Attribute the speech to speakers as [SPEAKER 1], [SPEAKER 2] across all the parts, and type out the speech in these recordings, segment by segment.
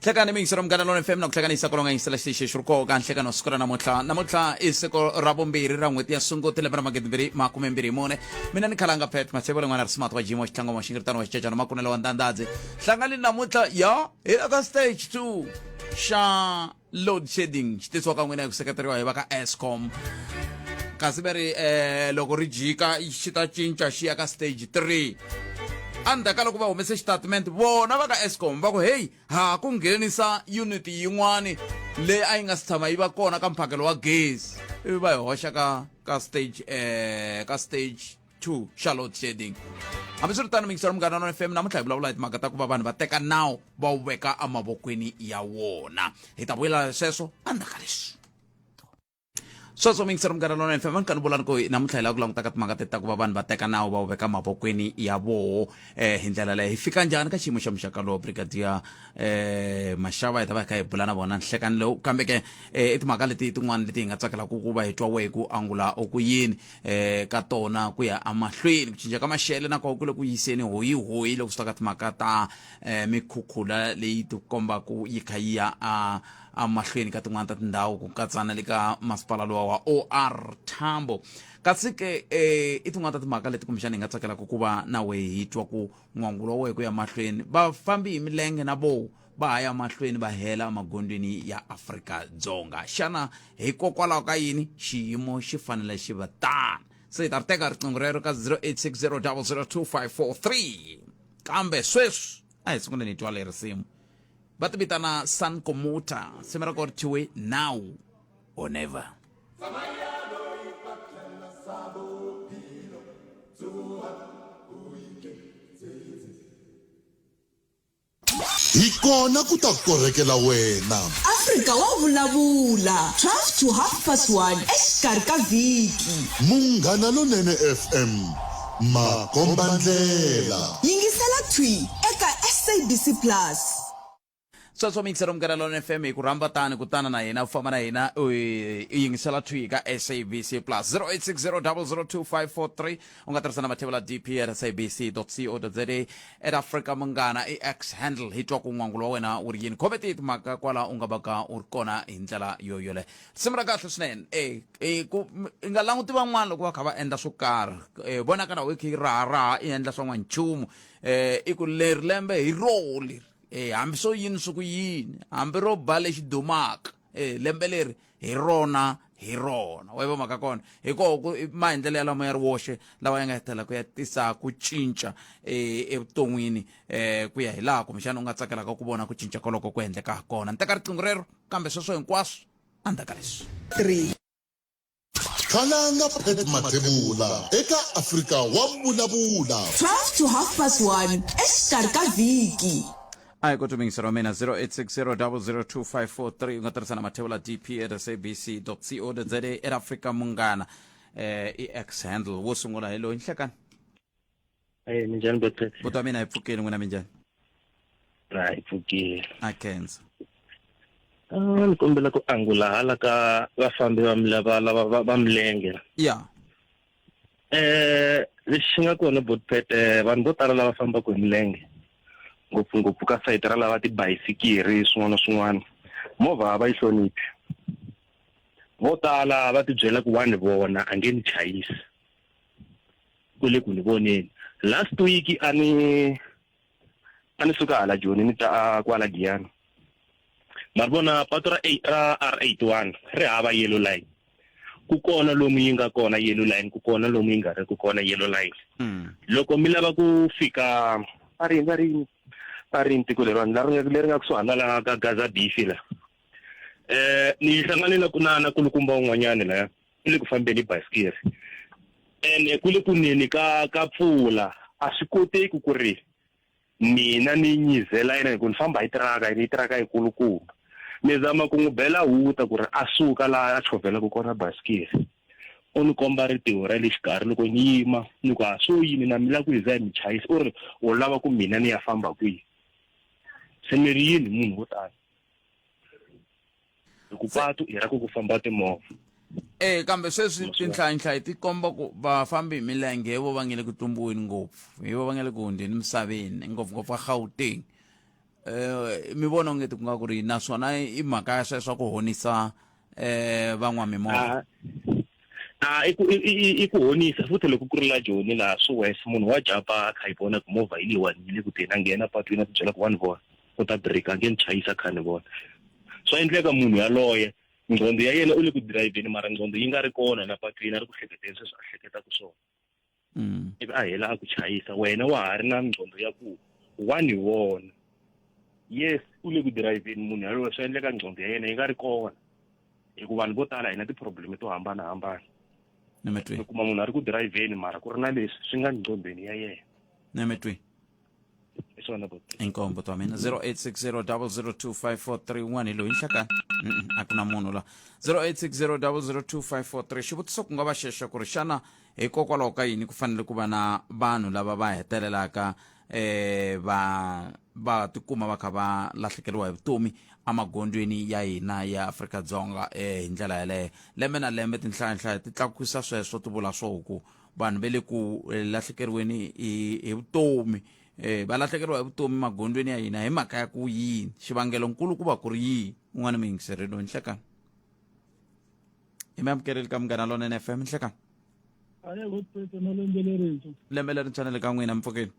[SPEAKER 1] hlekani mi yingisela munghana lona fm na ku hlanganisa ku longanyisela xitichi xi ri koka nhlekano siku ra namuntlha namuntlha i siku ra vumbirhi ra n'hweti ya sunguti lembe ra magidi mbirhi makume mbirhi mune mina ni khalanga pet matshevo len'wana ri smart wa jimo wa xitlangoma wa xingiritano wa xicecana makunelo wa ndandadzi hlangani namuntlha ya hi aka stage two xa load shedding xi tisiwa ka n'wina hi ku seketeriwa hi va ka escom kasi va ri um loko ri jika xi ta cinca xi ya ka stage three endzhaku ka loko va humese xitatimende vona va ka escom va ku heyi ha ku nghenisa unit yin'wani leyi a yi nga si tshama yi va kona ka mphakelo wa gezi ivi va yi hoxa ka ka stage um ka stage to charlotte shading hambiswiritano mikisaro munghana na fm namuntlha hi vulavula hi timhaka ta ku va vanhu va teka nawu va wu veka emavokweni ya wona hi ta vuyela sweswo endzhaku ka leswi sweswo mingisero munghana lona fm kani vulani ku namuntlha hi lava ku languta ka timhaka teta ku va vanhu va teka nawu va wu veka mavokweni ya voho um eh, hi ndlela leyi hi fika njhani ka xiyimo xa muxaka lowo brigadier um maxava hi ta va hi kha hi bula na vona nhlekani lowu kambe ke um i timhaka leti tin'wana leti hi nga tsakelaka ku va hi twa wehi ku angula ku yini eh ka tona ku ya amahlweni ku cinca ka maxele na kona ku le ku yiseni hoyi hoyi loko swi ta ka timhaka ta eh mikhukhula leyi ti kombaku yi kha yi ya a amahlweni ka tin'wana ta tindhawu ku katsa na le ka masipala lowa wa OR Tambo kasi ke eh i tin'wana ta timhaka leti kumbexana hi nga tsakelaka ku va na wehe hi twa ku n'wangulo wa wehe ku ya mahlweni vafambi hi milenge na voho va ha ya mahlweni va hela emagondweni ya afrika dzonga xana hikokwalaho ka yini xiyimo xi fanele xi va tani se hi ta ri teka riqingho rero ka 0860002543 kambe sweswi a hi sunguleni hi twa leri simu va ti vitana sun komuta simu ra ko ri thyiwe now or never
[SPEAKER 2] Hi kona ku ta korhekela wena. Afrika wa
[SPEAKER 3] vulavula, 12 to half past 1 exikarhi ka vhiki. Munghana
[SPEAKER 2] Lonene FM, makombandlela. Yingisela thwi
[SPEAKER 3] eka SABC Plus.
[SPEAKER 1] Sweswo mixer Munghana Lonene FM hi ku rhamba tani kutana na hina u famba na hina u yingisela thwi ka SABC Plus 0860 002 543 u nga tirhisa na mathevula dp at sabc co za at africa munghana i x handle hi twa ku n'wangulo wa wena wu ri yini khometi timhaka kwala u nga va ka u ri kona hi ndlela yo yole risimu ra kahle swinene e e ku m- i nga languti van'wana loko va kha va endla swo karhi e vonaka na wekhi raha raha i endla swa n'wanchumu e i ku leri lembe hi roho leri e hambi swo yini swi ku yini hambi ro ba lexi dumaka e lembe leri hi rona hi rona wa yiva mhaka kona hikoho maendlelo ya lama ya ri woxe lawa ya nga hetelela ku ya tisa ku cinca e, evuton'wini um ku ya hi laha kumbexana u nga tsakelaka ku vona ku cinca koloko ku endleka ha kona ni teka riqingho rero kambe sweswo hinkwaswo a ndzaka leswi
[SPEAKER 2] Khalanga Pat Mathebula eka Afrika wa Vulavula. 12 to half
[SPEAKER 3] past 1 exikarhi ka vhiki ayi ku tumingisa
[SPEAKER 1] ra mina 0860002543 u nga tirhisa na mathevula dp at sabc co za era africa munghana eh i x handle wo sungula hi loyi nhlekani
[SPEAKER 4] Hey, minjhani Betty? buti wa mina hi pfukile n'wina
[SPEAKER 1] minjhani Na
[SPEAKER 4] hi pfukile. a kenzo Ah, ni kombela ku angula hala ka vafambi va mila- va lava va- va milenge. ya
[SPEAKER 1] Eh,
[SPEAKER 4] lexi xi nga kona Botpet eh vanhu vo tala lava fambaka hi milenge. Ngopfungopfu ka site ra lava tibayisikiri swin'wana na swin'wana. Movha a va yi hloniphi. Vo tala va tibyela ku wani vona a nge ni chayisi. ku le ku ni voneni last week a ni a ni suka hala joni ni ta kwala giyani ma ri vona patu ra r eighty one ri hava yellow line ku kona lomu yi nga kona yellow line ku kona lomu yi nga ri ku kona yellow line hmm. loko mi lava ku fika a ri va ri a ri ntiko leriwani leri nga kusuhana la ka gaza bifi la um ni hlangane na na kulukumba un'wanyani laya ku le ku fambeni hi basikiri ene ku le ku neni ka ka pfula a swi koteki ku ri mina ni nyizela yena hikuva ni famba hi tiraka yini yi tiraka yikulukumba ni zama ku n'wi bela huta ku ri a suka laha a chovhelaka kona basikiri u ni komba ritiho ra le xikarhi loko ni yima ni ku a swo yini na mi lava ku hi za hi mi chayisa u ri u lava ku mina ni ya famba kwihi se mi ri yini munhu wo tani hi ku patu i ra ku ku famba timovha e kambe
[SPEAKER 1] sweswi tinhlayinhlayi ti komba ku vafambi hi milenge hi vo va nge le ku tumbiweni ngopfu hi vo va nge le ku hundzeni misaveni ngopfungopfu va gauteng um mi vona ungeti ku nga ku ri naswona i mhaka ya sweswa ku honisa um van'wamimovha a i ku
[SPEAKER 4] i ku honisa futhi loko ku ri la joni laha swi wes munhu wa japa a kha yi vona ku movha yi leyiwani yi le ku teni a nghena patwini a ti byela ku wa ni vona u ta break a nge ni chayisa kha ni vona swa endleka munhu yaloye nqondo ya yena u le ku dirayivheni mara nqondo yi nga ri kona la patwini a ri ku hleketeni sweswi a hleketaka swona mm. ivi a hela a ku chayisa wena wa ha ri na nqondo ya ku wa ni vona yes u le ku dirayivheni munhu yaloye swi endleka nqondo ya yena yi nga ri kona hikuva vanhu vo tala hina ti-problem to hambanahambana
[SPEAKER 1] mi kuma munhu a
[SPEAKER 4] ri ku dirayivheni mara ku ri na leswi swi nga nqondweni ya yena hi swona buti inkombo to mina 0860002541
[SPEAKER 1] hi loyi nhlakani Mm-mm, a ku na munhu la 0860002543 xivutiso ku nga va xexa ku ri xana hikokwalaho ka yini ku fanele ku va na vanhu lava va hetelelaka eh va va tikuma va kha va lahlekeriwa hi vutomi emagondzweni ya hina ya Afrika Dzonga eh hi ndlela yaleyo lembe na lembe tinhlayanhlaya ti tlakusa sweswo ti vula swo ku vanhu ve le ku eh, lahlekeriweni hi hi vutomi eh va lahlekeriwa hi vutomi magondzweni ya hina hi mhaka ya ku yini xivangelo nkulu ku va ku ri yini un'wana mi yingiserile loyi nhlekani i mi amukeleli ka munghana lona n fm nhlekani aye
[SPEAKER 5] votpeta na lembe lerintshwa lembe lerintshwa na le ka
[SPEAKER 1] n'wina mpfukeni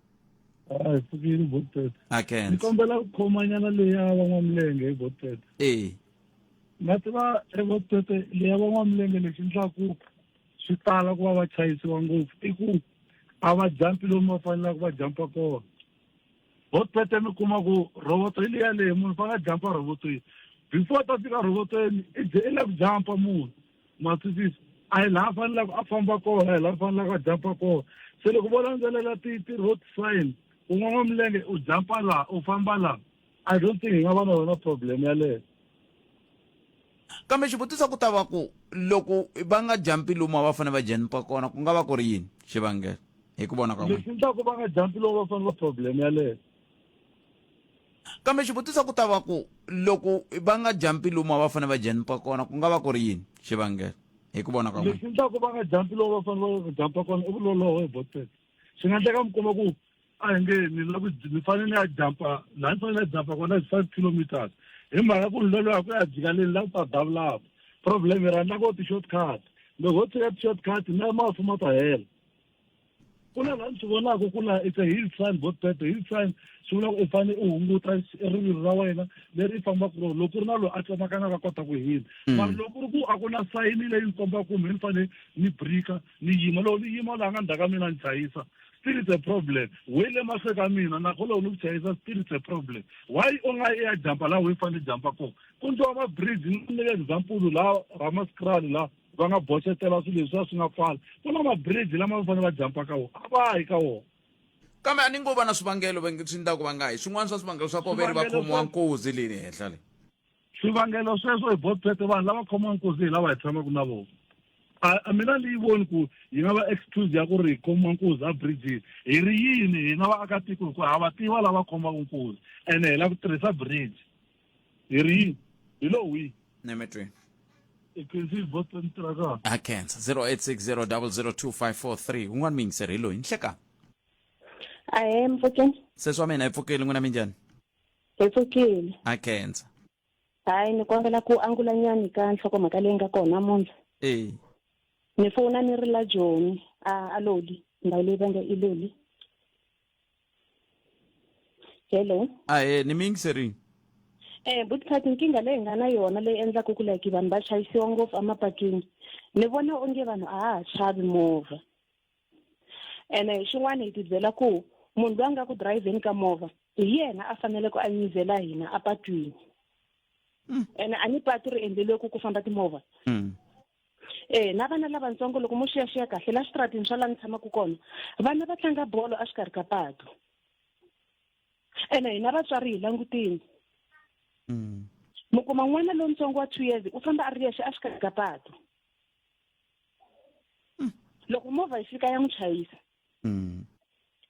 [SPEAKER 1] hayi
[SPEAKER 5] pfukini votpeta a kense ni kombela
[SPEAKER 1] ku khomanyana
[SPEAKER 5] leyi ya van'wamilenge hi votpeta ee na tiva evotpeta leyi ya van'wamilenge lexi ndlaku swi tala ku va va chayisiwa ngopfu i ku a va jampi lomu va fanelaka va jampa kona ho tete mi kuma ku roboto yi le yaleyo munhu fanele a jampa robotweni before ta fika robotweni i ze i la ku jampa munhu ma twisisa a hi laha fanelaka a famba kona a hi laha fanelaka a jampa kona se loko vo landzelela ti ti-road sign un'wana wa milenge u jampa laha u famba laha I don't think hi nga va na yona problem yaleyo. Kambe
[SPEAKER 1] xivutiso ku ta va ku loko va nga jampi lomu a va fanele va jampa kona ku nga va ku ri yini xivangelo hi ku vona ka n'wina? Lexi endlaku va nga jampi
[SPEAKER 5] lomu va fanele va problem yaleyo. Kambe
[SPEAKER 1] xivutiso ku ta va ku loko va nga jampi lomu a va fanele va jampa kona ku nga va ku ri yini xivangelo hi ku vona ka n'wina? Lexi endlaku va nga jampi
[SPEAKER 5] lomu va fanele va jampa kona i vuloloho hi botsetse. Swi nga endleka mi kuma ku a hi nge ni la ku ni fanele ni ya jampa laha ni fanele ni ya jampa kona is five kilometers hi mhaka ku ni loloya ku ya jika leni la ku ta davulava problem ra na ko ti-short cut loko ho tshika ti-short cut na mafu ma ta hela ku na laha ni swi vonaka ku na it's a hill sign both better hill sign swi vula ku i fanele u hunguta rivilo ra wena leri i fambaka rona loko ku ri na loyi a tsemakanaka a kota ku hila mara loko ku ri ku a ku na sayini leyi ni kombaka kumbe ni fanele ni brika ni yima loko ni yima laha nga ndzhaka mina ni chayisa still it's a problem we le mahlwe ka mina na kgolo ni ku chayisa still it's a problem why u nga i ya jampa laha wi fanele jampa kona ku ndliwa mabridge ni nyika example laha ramaskrali laha va nga boxetela swilo leswi a swi nga pfala ku na mabridge lama va fanele va jampa ka wona a va yi ka wona kambe a ni ngo
[SPEAKER 1] va na swivangelo swi ndlaku va nga yi swin'wana swa swivangelo swa kona ve ri va khomiwa nkozi leyi le henhla leyi swivangelo
[SPEAKER 5] sweswo hi botswete vanhu lava khomiwa nkuzi hi lava hi tshamaka na vona a mina ni yi voni ku yi nga va excuse ya ku ri hi khoma nkuzi a bridges hi ri yini hina vaakatiko hikuva ha va tiva lava khomaka nkuzi ene hi lava ku tirhisa bridge hi ri yini hi lo wihi ne mi
[SPEAKER 1] twini
[SPEAKER 5] a
[SPEAKER 1] khensa 0860002543 un'wana miyingiseri hi loyi ni hlekani
[SPEAKER 6] ahe mpfukeni sesi wa mina hi pfukeli
[SPEAKER 1] n'wina minjhani Hi
[SPEAKER 6] pfukile. Ha khensa.
[SPEAKER 1] Hayi ni
[SPEAKER 6] kombela ku angula nyani ka nhlokomhaka leyi nga kona namuntlha. Eh. Ni fona ni ri la Joni a a Loli ndhawu leyi va nge i Loli. Hello. Ah eh ni mi
[SPEAKER 1] yingiserile. Eh buti
[SPEAKER 6] Phati nkingha leyi nga na yona leyi endlaka ku like vanhu va chayisiwa ngopfu emapatwini ni vona onge vanhu a ha ha chavi movha ene xin'wana hi tibyela ku munhu loyi a nga ku dirayivheni ka movha hi yena a faneleke a nyizela hina apatwini mm. ene a ni patu ri endleliwe ku ku famba timovha mm. e na vana lavatsongo loko mo xiyaxiya kahle la switratini swa la ni tshamaka kona vana va tlanga bolo exikarhi ka patu ene hina vatswari hi langutini mm. mi kuma n'wana lowutsongo wa two years u famba a ri yexe exikarhi ka patu hmm. loko movha yi fika ya n'wi chayisa hmm.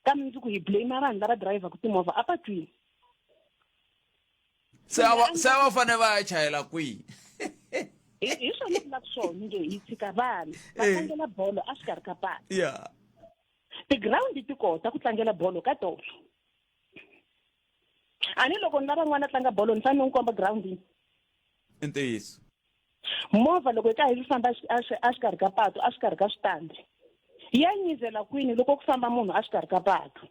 [SPEAKER 6] kambe ndzi ku hi blame vanhu lava dirayivhaku timovha a patwini
[SPEAKER 1] se a va se a va fane va ya chayela kwihi
[SPEAKER 6] hi swona ku lava swona nge hi tshika vana va eh. tlangela bolo a swi karhi ka pala ya tigirawundi ti kota ku tlangela bolo ka tolo a ni loko ni lava n'wana a tlanga bolo ni fanele ni komba girawundini i
[SPEAKER 1] ntiyiso movha
[SPEAKER 6] loko hi ka hi swi famba exikarhi ka patu exikarhi ka switandi ya nyizela kwini loko ku famba munhu exikarhi ka patu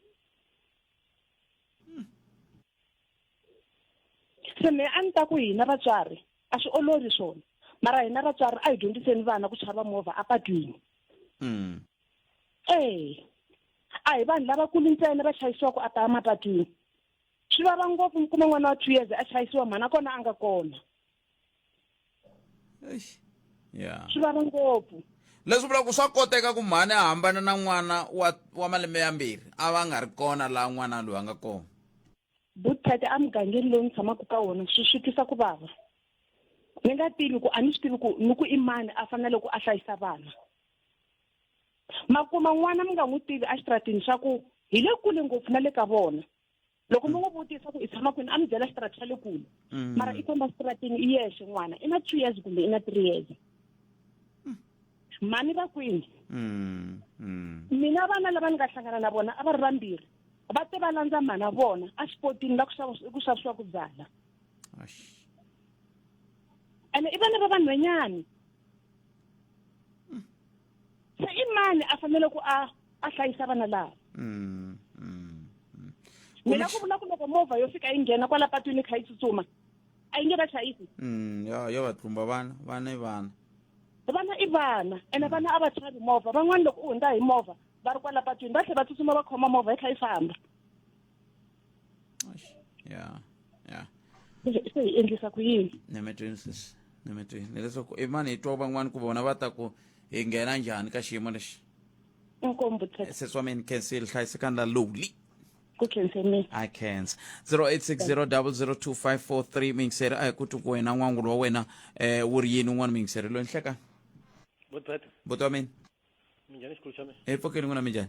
[SPEAKER 6] se me a ni ta ku hina vatswari a swi olovi swona mara hina vatswari a hi dyondziseni vana ku chava movha apatwini mm. ee a hi vanhu lavakulu ntsena va chayisiwaka a ta mapatwini swi vava ngopfu mi kuma n'wana wa two years a chayisiwa mhana kona a nga kona Eish. ya swi vava ngopfu leswi vulaka ku swa
[SPEAKER 1] koteka ku mhani a hambana na n'wana wa wa malembe yambirhi a va nga ri kona laha n'wana loyi a nga kona buthete
[SPEAKER 6] emugangeni lowu ni tshamaka ka wona swi swi twisa ku vava ni nga tivi ku a ni swi tivi ku ni ku i mani a fanele ku a hlayisa vana makuma n'wana mi nga n'wi tivi exitratini swa ku hi le kule ngopfu na le ka vona loko mi n'wi vutisa ku i tshama kwini a mi byela xitarata xa le kule mm. mara i famba xitaratini i yexe n'wana i na two years kumbe i na three years mm. mhani va kwini mm, mina vana lava ni nga hlangana na vona a va ri vambirhi va te va landza mhana vona a xipotini la ku xavisiwa ku byala ene i vana va vanhwenyani mm. se i mani a fanele ku a a hlayisa vana lava mm, mm, mm. mina ku vula ku loko movha yo fika yi nghena kwala patwini kha yi tsutsuma a yi nge va hlayisi mm, yo yo va
[SPEAKER 1] tlumba vana vana i vana vana i
[SPEAKER 6] vana ene vana a va chavi movha van'wani loko u hundza hi movha va ri kwala patwini va tlhe va tsutsuma va khoma movha yi kha yi famba Eish, ya ya se hi endlisa ku yini ni mi twini sisi
[SPEAKER 1] ni mi twini hileswaku i mani hi twa van'wani ku vona va ta ku hi nghena njhani ka xiyimo lexi inkomu
[SPEAKER 6] butsheke sesi wa mina khensi
[SPEAKER 1] li hlayisekani la lowly ku khense
[SPEAKER 6] mina I can't. 0860002543
[SPEAKER 1] mingiseri a hi ku twi ku wena n'wangulo wa wena eh wu ri yini un'wana mingiseri loyi ni hleka Botsweta, buti wa mina minjhani xikulu xa
[SPEAKER 7] mina? hi pfukeni n'wina minjhani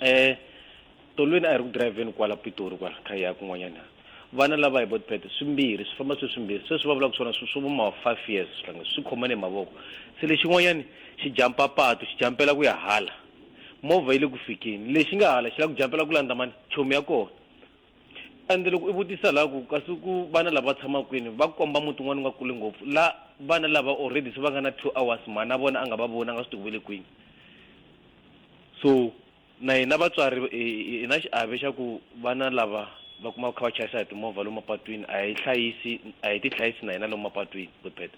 [SPEAKER 7] eh tolweni a hi ri ku driveni kwala pitori kwala kha ya kun'wanyana vana lava hi botipete swimbirhi swi famba swi swimbirhi sweswi va vulaka swona swi swi vuma five years swihlanga swi khomane hi mavoko se lexin'wanyani xi jampa patu xi jampela ku ya hala movha yi le ku fikeni lexi nga hala xi la ku jampela ku landza mani chomi ya kona ende loko i vutisa laha ku kasi ku vana lava tshama kwini va komba muti un'wana u nga kuli ngopfu la vana lava already se va nga na two hours mhana a vona a nga va voni a nga swi tiku ve le kwini so na hina vatswari hi na xiave xa ku vana lava va kuma kha va chayisa hi timovha lomu mapatwini a hi hlayisi a hi ti hlayisi na hina lomu mapatwini good bad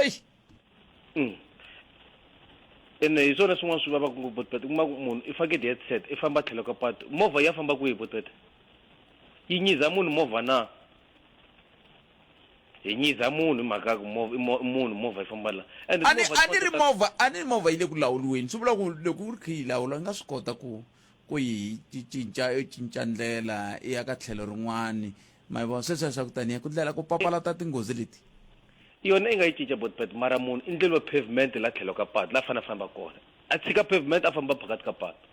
[SPEAKER 7] eish mm. ene hi swona swin'wana swi vavaka ngopfu botbet kuma ku munhu i fake di-headset i famba tlhelo ka patu movha ya famba kwihi botbet yi nyiza munhu movha na hi nyiza munhu hi mhaka ku mov- i mo- munhu movha yi famba la and a ni movha a ti ni ri kota-
[SPEAKER 1] movha a ni ri movha yi le ku lawuliweni swi vula ku loko u ri khe yi lawula yi nga swi kota ku ku yi ci- cinca yo cinca ndlela i ya ka tlhelo rin'wani ma vona sweswi ya swa ku taniya ku ndlela ku papalata tinghozi leti yona i
[SPEAKER 7] nga yi cinca botbet mara munhu i ndleliwa pavement la tlhelo ka patu la fanele a famba kona a tshika pavement a famba phakati ka patu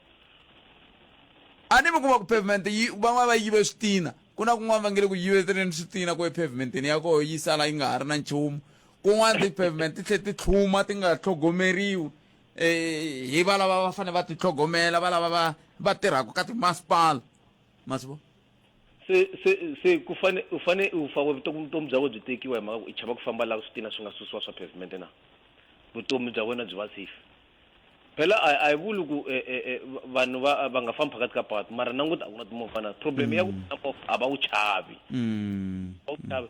[SPEAKER 1] a ni mi kuma ku pavement yi van'wana va yive switina ku na kun'wana va nge le ku yiveteleni switina ku epavementeni ya koho yi sala yi nga ha ri na nchumu kun'wana ti-pavement ti tlhe ti tlhuma ti nga tlhogomeriwi hi valava va fanele va titlhogomela valava va va tirhaka ka timasipala ma swi vona se se
[SPEAKER 7] se ku fane u fane u fa vutomi vutomi bya wena byi tekiwa hi mhaka ku i chava ku famba laha switina swi nga susiwa swa pavement na vutomi bya wena byi va safe phela a a hi vuli ku e, e, e, vanhu va va nga fambi phakathi ka patu mara nanguta a ku na timovha na problem ya ku mm. na movha a va wu chavi mm. a wu chavi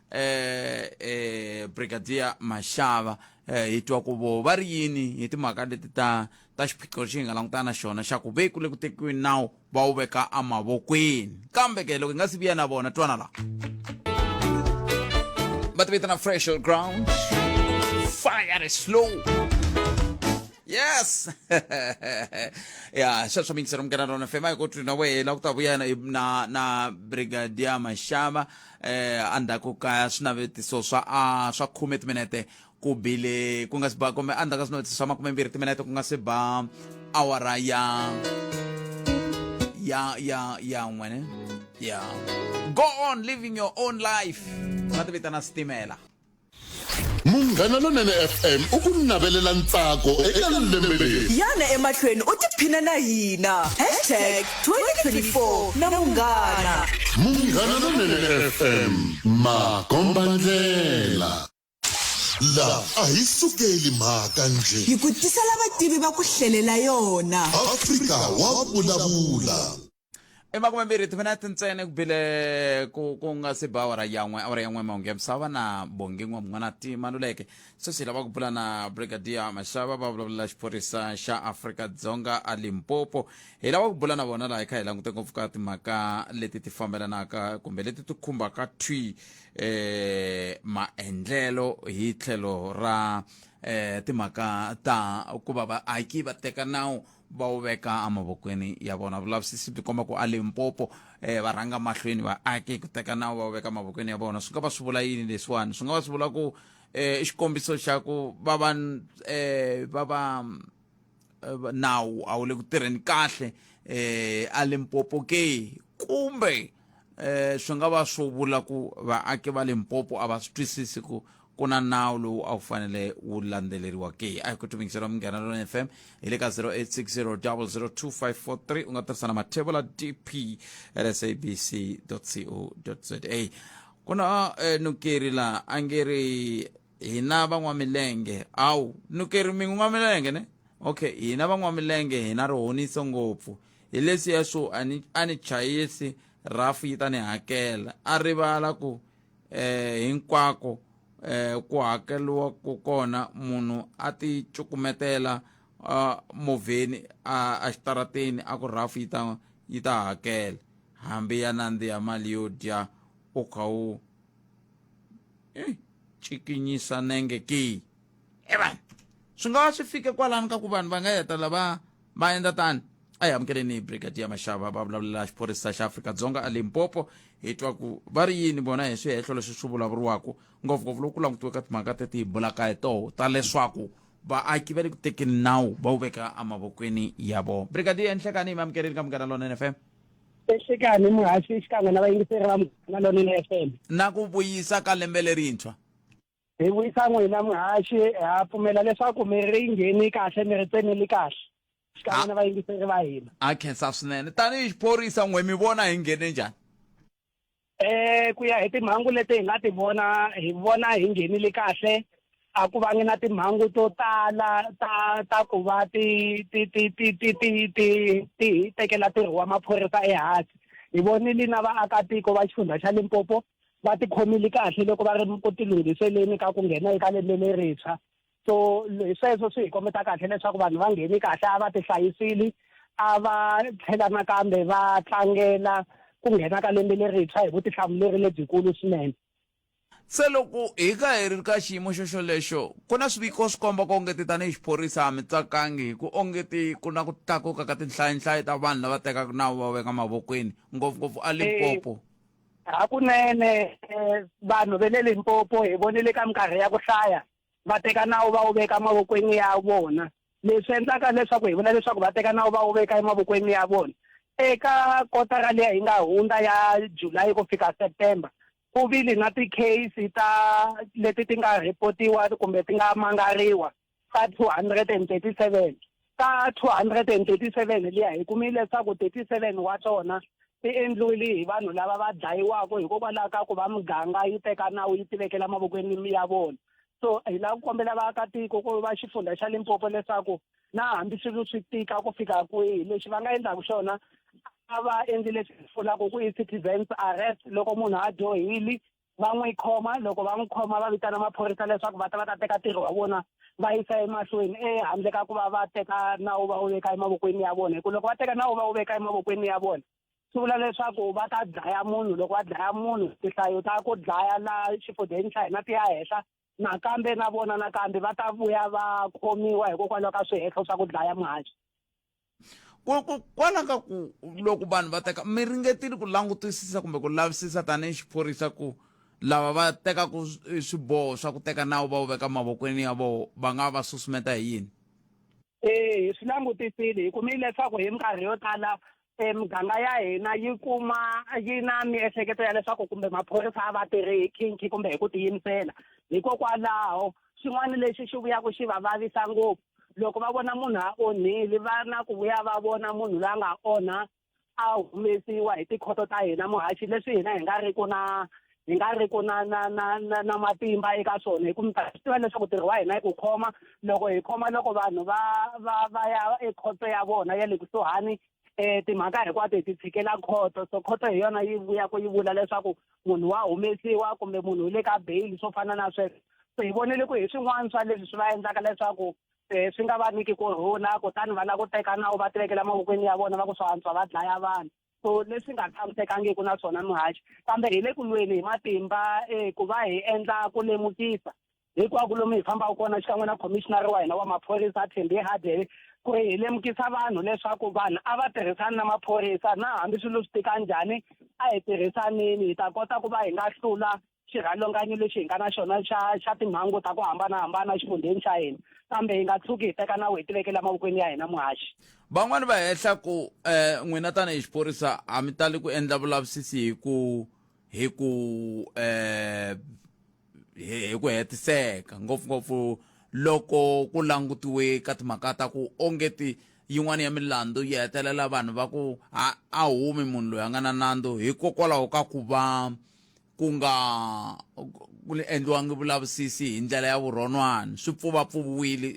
[SPEAKER 1] eh, eh, brigadier maxava eh, hi twa ku vo va ri yini hi timhaka leti ta ta xiphiqo lexi hi nga langutana na xona xa ku ve ku le ku tekiweni nawu va wu veka emavokweni kambe ke loko hi nga si vuya na vona twana laha va ti vitana fresh on ground fire is slow yes ya sweswo mingisero mukena rona fema hi ku twi na wena ku ta vuya na na na brigadier maxava eh andzhaku ka swinavetiso swa a swa khume timinete ku bile ku nga si ba kumbe andzhaku ka swinavetiso swa makumembirhi timinete ku nga si ba awara ya ya ya ya n'we ne ya go on living your own life va ti vitana switimela
[SPEAKER 2] munghana lonene fm u ku navelela ntsako eka lembe leri yana emahlweni u
[SPEAKER 3] tiphina na hina hashtag 2024 na munghana munghana
[SPEAKER 2] lonene fm makombandlela laha a hi sukeli mhaka nje hi ku tisela
[SPEAKER 3] vativi va ku hlelela yona afrika wa
[SPEAKER 2] vulavula i makume
[SPEAKER 1] mbirhi timinete ntsena ku bile ku ku nga se ba awara yan'we awara yan'we mahungu ya misava na bongi n'wa mun'wana ti maluleke sweswi lava ku bula na brigadier maxava va vulavula xiphorisa xa afrika dzonga a limpopo hi lava ku bula na vona laha hi kha hi langute ngopfu ka timhaka leti ti fambelanaka kumbe leti ti khumbaka thwi eh maendlelo hi tlhelo ra eh timhaka ta ku va vaaki va teka nawu va wu veka emavokweni ya vona vulavisisi byi komba ku a limpopo um va rhanga mahlweni va ake ku teka nawu va wu veka emavokweni ya vona swi nga va swi vula yini leswiwani swi nga va swi vula ku eh, i xikombiso xa ku va va um va va nawu a wu le ku tirheni kahle um a limpopo ke kumbe um swi nga va swo vula ku vaaki va limpopo a va swi twisisi ku ku na nawu lowu a wu fanele wu landzeleriwa ke a hi ku tumbingisela munghana lona fm hi le ka 0860002543 u nga tirhisa na mathevula dp sabc co za ku na eh, nukeri la a nge ri hina van'wamilenge awu nukeri mingu n'wamilenge ne okay hina van'wamilenge hina ri honiso ngopfu hi leswiya swo a ni chayisi rafu yi ta ni hakela a rivala ku eh, hinkwako eh, ku hakeriwa ku kona munhu a ti cukumetela uh, movheni uh, exitarateni a ku rhafu yi ta yi ta hakela hambi ya nandziha mali yo dya u kha u eh, cikinyisa nenge ki e vanhu swi nga va swi fike kwalani ka ku vanhu va nga heta lava va endla tani a hi amukeleni brigadier maxava va vulavulela xiphorisa xa afrika-dzonga a limpopo hi twa ku va ri yini vona hi swihehlo leswi swi vulavuriwaka ngopfungopfu loko ku langutiwe ka timhaka teti hi bulaka hi toho ta leswaku vaaki va le ku tekeni nawu va wu veka emavokweni ya vona brigadier nhlekani hi mi amukeleni ka munghana lonene fm ehlekani
[SPEAKER 8] muhaxi xikan'we na vayingiseri va munghana lonene fm na ku vuyisa
[SPEAKER 1] ka lembe lerintshwa Hi wisa
[SPEAKER 8] n'wina muhaxi ha pfumela leswaku mi ri ngheni kahle mi ri tsemeli kahle xikan'we na vayingiseri va hina a khensa swinene
[SPEAKER 1] tanihi xiphorisa n'we mi vona hi nghene njhani eh
[SPEAKER 8] ku ya hi timhangu leti hi nga ti vona hi vona hi nghenile kahle a ku vangi na timhangu to tala ta ta ku va ti ti ti ti ti ti ti ti hi tekela ntirho wa maphorisa ehansi hi vonile na vaakatiko va xifundza xa limpopo va tikhomile kahle loko va ri ku tilunghiseleni ka ku nghena eka lembe lerintshwa so hi sweswo swi hi kombeta kahle leswaku vanhu va ngheni kahle a va ti hlayisile a va tlhela nakambe va tlangela ku nghena ka lembe lerintshwa hi vutihlamuleri lebyikulu swinene se
[SPEAKER 1] loko hi ka hi ri ka xiyimo xo xolexo ku na swiviko swi komba ku ongeti tanihi xiphorisa ha mi tsakangi hi ku ongeti ku na ku tlakuka ka tinhlayinhlayo ta vanhu lava tekaka nawu va weka mavokweni ngopfungopfu a limpopo Hakunene,
[SPEAKER 8] vanhu va le Limpopo hi vonile ka minkarhi ya ku hlaya va teka nawu va wu veka emavokweni ya vona. Leswi endlaka leswaku hi vula leswaku va teka nawu va wu veka emavokweni ya vona, eka kotara liya yi nga hundza ya July ku fika September, ku vile na ti-case ta leti ti nga report-iwa kumbe ti nga mangariwa. ka 237 ka 237 liya hi kumile leswaku 37 wa tona ti endliwile hi vanhu lava va dlayiwaka hikokwalaho ka ku va muganga yi teka nawu yi tivekela mavokweni ya vona so hi lava ku kombela vaakatiko ku va xifundza xa limpopo leswaku na hambi swilo swi tika ku fika kwihi lexi va nga endlaka xona a va endli leswi vulaka ku i citizens arrest loko munhu a dyohile va n'wi khoma loko va n'wi khoma va vitana maphorisa leswaku va ta va ta teka ntirho wa vona va yisa emahlweni ehandle ka ku va va teka nawu va wu veka emavokweni ya vona hikuva loko va teka nawu va wu veka emavokweni ya vona swi vula leswaku va ta dlaya munhu loko va dlaya munhu tihlayo ta ku dlaya la xifudzeni xa hina ti ya henhla nakambe na vona nakambe va ta vuya va khomiwa hikokwalaho ka swihehlo swa ku dlaya muhaxi kwala
[SPEAKER 1] ka ku loko vanhu va teka mi ringetile ku langutisisa kumbe ku lavisisa tanihi xiphorisa ku lava va tekaka swiboho swa ku teka nawu va wu veka mavokweni ya voho va nga va susumeta hi yini ee hi
[SPEAKER 8] swi langutisile hi kumile leswaku hi minkarhi yo tala e muganga ya hina yi kuma yi na miehleketo ya leswaku kumbe maphorisa a va tirhi hi khinkhi kumbe hi ku tiyimisela hikokwalaho xin'wana lexi xi vuyaka xi va vavisa ngopfu loko va vona munhu a onhile va na ku vuya va vona munhu la nga onha a humesiwa hi tikhoto ta hina muhaxi leswi hina hi nga ri ku na hi nga ri ku na na na na na matimba eka swona hi ku mi ta swi tiva leswaku ntirho wa hina i ku khoma loko hi khoma loko vanhu va va va ya ekhoto ya vona ya le kusuhani um timhaka hinkwato hi ti tshikela khoto so khoto hi yona yi vuya ku yi vula leswaku munhu wa humesiwa kumbe munhu u le ka beyili swo fana na sweswo so hi vonele ku hi swin'wana swa leswi swi va endlaka leswaku um swi nga va niki ku rhula kutani va lava ku teka nawu va tivekela mavokweni ya vona va ku swa antswa va dlaya vanhu so leswi nga tshamisekangiki na swona muhaxi kambe hi le ku lweni hi matimba um ku va hi endla ku lemukisa hinkwako lomu hi fambaka kona xikan'we na commissioner wa hina wa maphorisa thembi hadele ku ri hi lemukisa vanhu leswaku vanhu a va tirhisani na maphorisa na hambi swilo swi tika njhani a hi tirhisanini hi ta kota ku va hi nga hlula xirhalanganyi lexi hi nga na xona xa xa timhangu ta ku hambanahambana exifundzheni xa hina kambe hi nga tshuki hi teka nawu hi tivekela mavokweni ya hina muhaxi van'wani va hehla
[SPEAKER 1] ku um n'wina tanihi xiphorisa a mi tali ku endla vulavisisi hi ku hi ku um hi ku hetiseka ngopfungopfu loko ku langutiwe ka timhaka ta ku ongeti yin'wana ya milandzu yi hetelela vanhu va ku a humi munhu loyi a nga na nandzu hikokwalaho ka ku va ku nga ku endliwangi vulavisisi hi ndlela ya vurhonwana swi pfuvapfuviwile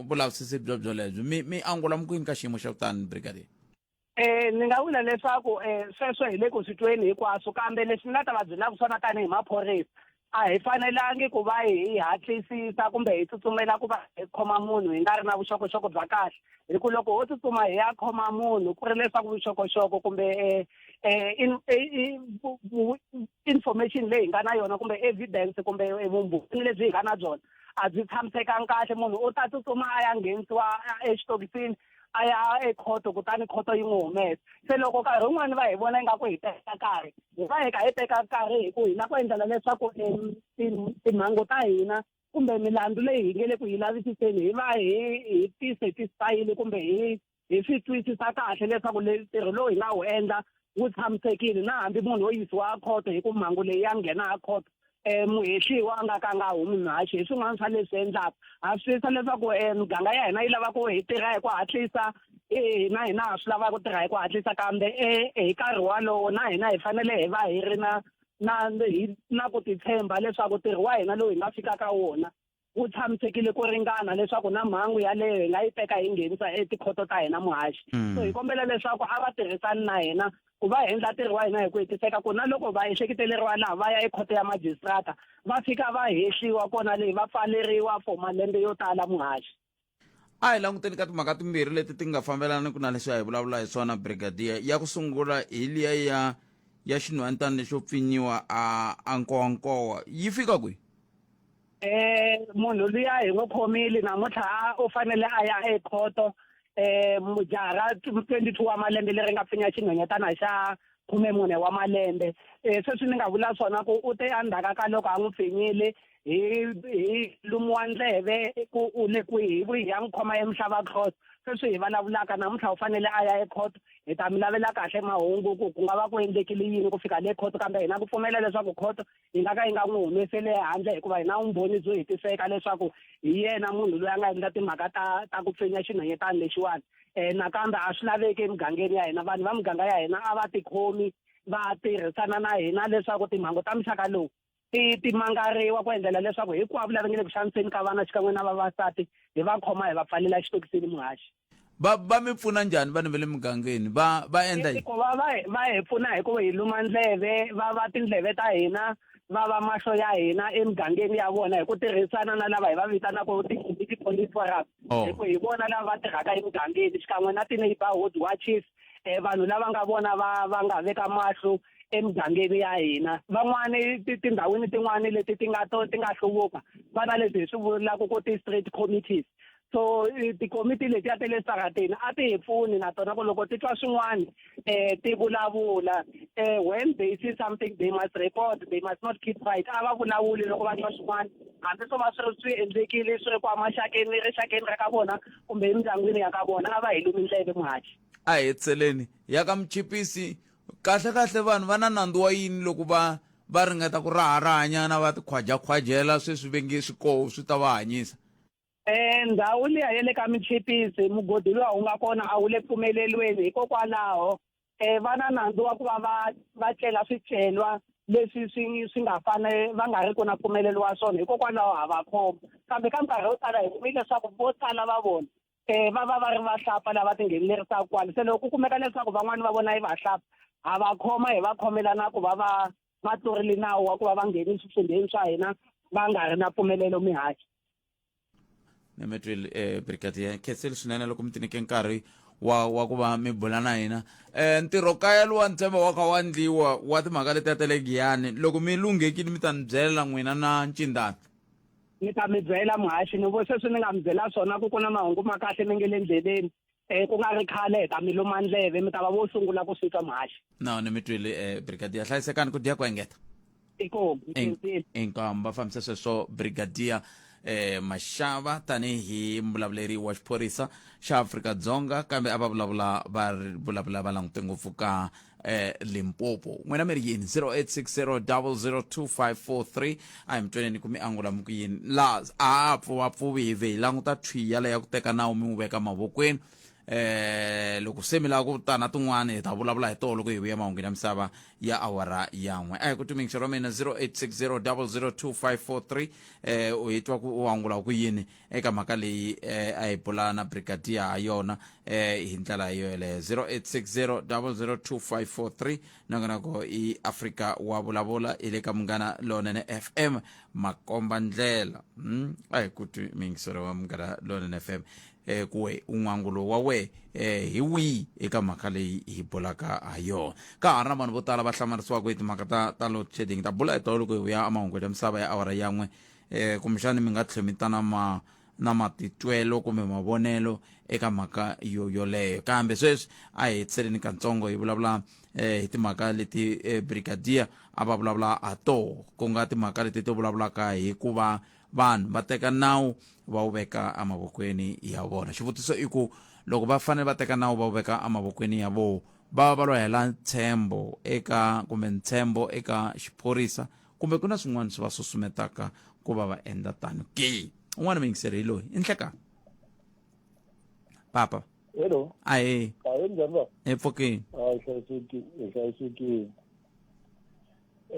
[SPEAKER 1] vulavisisi byo byolebyo mi mi angula mukwini ka xiyimo xa kutani brigadier Eh ni nga
[SPEAKER 8] vula leswaku eh sweswo hi le ku swi tweni hinkwaswo kambe leswi ni nga ta va byelaka swona tanihi maphorisa a hi fanelangi ku va hi hatlisisa kumbe hi tsutsumela ku va hi khoma munhu hi nga ri na vuxokoxoko bya kahle hi ku loko ho tsutsuma hi ya khoma munhu ku ri leswaku vuxokoxoko kumbe eh, eh, eh, information leyi hi nga na yona kumbe evidence kumbe vumbhoni lebyi hi nga na byona a byi tshamisekanga kahle munhu u ta tsutsuma a ya nghenisiwa exitokisini a ya ekhoto kutani khoto yi n'wi humesa se loko nkarhi wun'wani va hi vona ingaku hi teka nkarhi hi va hi ka hi teka nkarhi hi ku hina ku endlela leswaku timhangu ta hina kumbe milandzu leyi hi nge le ku yi lavisiseni hi va hi hi ti-satisfyile kumbe hi hi swi twisisa kahle leswaku le ntirho lowu hi nga wu endla wu tshamisekile na hambi munhu wo yisiwa a khoto hi ku mhangu leyi ya nghena a khoto um muhehliwa a nga ka a nga humi mhaxi hi swin'wana swa leswi endlaka ha swi twisisa leswaku um muganga ya hina yi lava ku hi tirha hi ku hatlisa hina hina ha swi lava ku tirha hi ku hatlisa kambe e hi nkarhi walowo na hina hi fanele hi va hi ri na na hi na ku titshemba leswaku ntirho wa hina lowu hi nga fika ka wona wu tshamisekile ku ringana leswaku na mhangu yaleyo hi nga yi teka hi nghenisa etikhoto ta hina muhaxi hmm. so hi kombela leswaku a va tirhisani na hina ku va endla ntirho wa hina hi ku hetiseka ku na loko va ehleketeleriwa laha va ya ekhoto ya magistrata va fika va hehliwa kona leyi va pfaleriwa for malembe yo tala muhaxi a hi
[SPEAKER 1] languteni ka timhaka timbirhi leti ti nga fambelaniki na leswi a hi vulavula hi swona brigadier ya ku sungula hi liya ya ya xinhwantani lexo pfinyiwa a a nkowankowa yi fika kwihi eh munhu
[SPEAKER 8] luya hi n'wi khomile namuntlha u fanele a ya ekhoto eh mujara 22 wa malembe leri nga pfinya xinhwenyetana xa khume mune wa malembe um sweswi ni nga vula swona ku u te endzhaka ka loko a n'wi pfinyile hi hi lumiwa ndleve ku u le kwihi hi vuyi ya n'wi khoma emuhlava court sweswi hi vulavulaka namuntlha u fanele a ya ecourt hi ta mi lavela kahle mahungu ku ku nga va ku endlekile yini ku fika le court kambe hina ku pfumela leswaku court yi nga ka yi nga n'wi humeseli ehandle hikuva hi na vumbhoni byo hetiseka leswaku hi yena munhu loyi a nga endla timhaka ta ta ku pfinya xinhanyetani lexiwani um nakambe a swi laveki emugangeni ya hina vanhu va muganga ya hina a va tikhomi va tirhisana na hina leswaku timhangu ta muxaka lowu ti ti mangariwa ku endlela leswaku hinkwavo lava nge le ku xaniseni ka vana xikan'we na vavasati hi va khoma hi va pfalela xitokisini muhaxi va va mi
[SPEAKER 1] pfuna njhani vanhu va le mugangeni va va endla yini
[SPEAKER 8] va va va hi
[SPEAKER 1] pfuna
[SPEAKER 8] hi ku hi luma ndleve va va
[SPEAKER 1] tindleve
[SPEAKER 8] ta hina va va mahlo ya hina emugangeni ya vona hi ku tirhisana na lava hi va vitanaka i ti-police forum oh. hi ku hi vona lava va tirhaka emugangeni xikan'we na ti-neighborhood watches um vanhu lava nga vona va va nga veka mahlo emugangeni ya hina van'wani tindhawini tin'wani leti ti nga to ti nga hluvuka va na leswi hi swi vulaka ku ti-street committees so tikomiti letiya ta le sarateni a ti hi pfuni na tona ku loko ti twa swin'wana um ti vulavula um when they see something they must report they must not keep right a va vulavuli loko va twa swin'wana hambi swo va swi ri swi endlekile swi ri ku amaxakeni rixakeni ra ka vona kumbe emindyangwini ya ka vona a va hi lumi ndleve muhaxi a hi tseleni
[SPEAKER 1] ya ka muchipisi kahle kahle vanhu va na nandzu wa yini loko va va ringeta ku raharahanyana va tikhwajakhwajela sweswi vengi swikoho swi ta va hanyisa Eh, ndhawu
[SPEAKER 8] liya ya le ka michipisi mugodi luwa wu nga kona a wu le pfumelelweni hikokwalaho eh, va na nandzu wa ku va va va tlela swicelwa leswi swi swi nga fane va nga ri ku na pfumelelo wa swona hikokwalaho ha va khoma kambe ka nkarhi wo tala hi kumi leswaku vo tala va vona um va va va ri vahlapfa lava tinghenelerisaka kwale se loko ku kumeka leswaku van'wani va vona yi vahlapfa ha va khoma hi va khomela na ku va va va tlurile nawu wa ku va va ngheni eswifundzheni swa hina va nga ri na pfumelelo mihaxi ni mi twile
[SPEAKER 1] um eh, brigadier khenseli swinene loko mi tinike nkarhi wa wa ku va mi bula na hina um ntirho kaya lowa ntshemba wa kha wa ndliwa wa timhaka letiya ta le giyani loko mi lunghekile mi ta ni byela n'wina na ncindana ni ta
[SPEAKER 8] mi byela muhaxi ni vo sweswi ni nga mi byela swona ku ku na mahungu ma kahle mi nge le ndleleni um ku nga ri khale hi ta mi luma ndleve mi ta va vo sungula ku swi twa mhaxi no ni mi twile um
[SPEAKER 1] eh, brigadier hlayisekani ku dya ku engeta inkomu va fambisa sweswo brigadier eh mashava tanihi mbulavuleri wa xiphorisa xa afrika dzonga kambe a va vulavula va vulavula va langute ngopfu ka eh, limpopo n'wina mi ri yini 0860002543 a hi mi tweneni ku mi angula mi ku yini la a pfuvapfuvi hi vhe hi languta thwi yale ya ku teka nawu mi wu veka mavokweni eh loko se mi lava ku ta na tin'wana hi ta vulavula hi toho loko hi vuya mahungwini ya misava ya awara yan'we a hi ku tumingixo ra mina 0860002543 eh u hi twa ku u angula ku yini eka mhaka leyi eh, a hi bula na brigadier ha yona eh, hi ndlela yo yeleyo 0860 002543 nangonako i afrika wa vulavula hi le ka munghana lonene fm makomba ndlela mm? a hi ku twi mingiselo wa munghana lonene fm eh, kuwe un'wangulo wa we eh, hi wihi eka mhaka leyi hi bulaka ha yona ka ha ri na vanhu vo tala va hlamarisiwaka hi timhaka ta ta load shedding ta bula hi tolo ku hi vuya emahungwini ya misava ya awara yan'we um kumbexani mi nga tlhela mi ta na ma na matitwelo kumbe mavonelo eka mhaka yo yoleyo kambe sweswi a hi hetseleni katsongo hi vulavula um hi timhaka leti um brigadier a va vulavula ha toho ku nga timhaka leti ti vulavulaka hi ku va vanhu va teka nawu va wu veka emavokweni ya vona xivutiso i ku loko va fanele va teka nawu va wu veka emavokweni ya vona va va va lo hela ntshembo eka kumbe ntshembo eka xiphorisa kumbe ku na swin'wana swi va susumetaka ku va va endla tano ke un'wana muyingiseri hi loyi i nhleka papa hello ahe
[SPEAKER 5] ahe
[SPEAKER 1] njhani va hi
[SPEAKER 5] pfukini a
[SPEAKER 1] hlayisekile hi
[SPEAKER 5] hlayisekile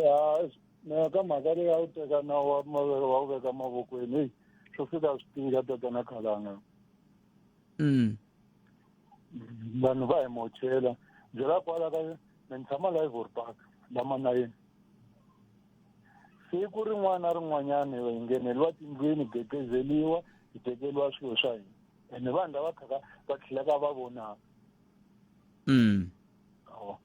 [SPEAKER 5] ya mina ka mhaka leyi a wu teka na wa mavele wa wu veka mavokweni heyi swo fika swi tika tatana khalanga mm vanhu va hi mochela ndzi la kwala ka me ni tshama la ivory park la manayeni siku rin'wana na rin'wanyana hi ngheneliwa tindlwini hi gegezeliwa hi tekeriwa swilo swa hina ene vanhu lava khaka va tlhelaka va vonaka mm. awa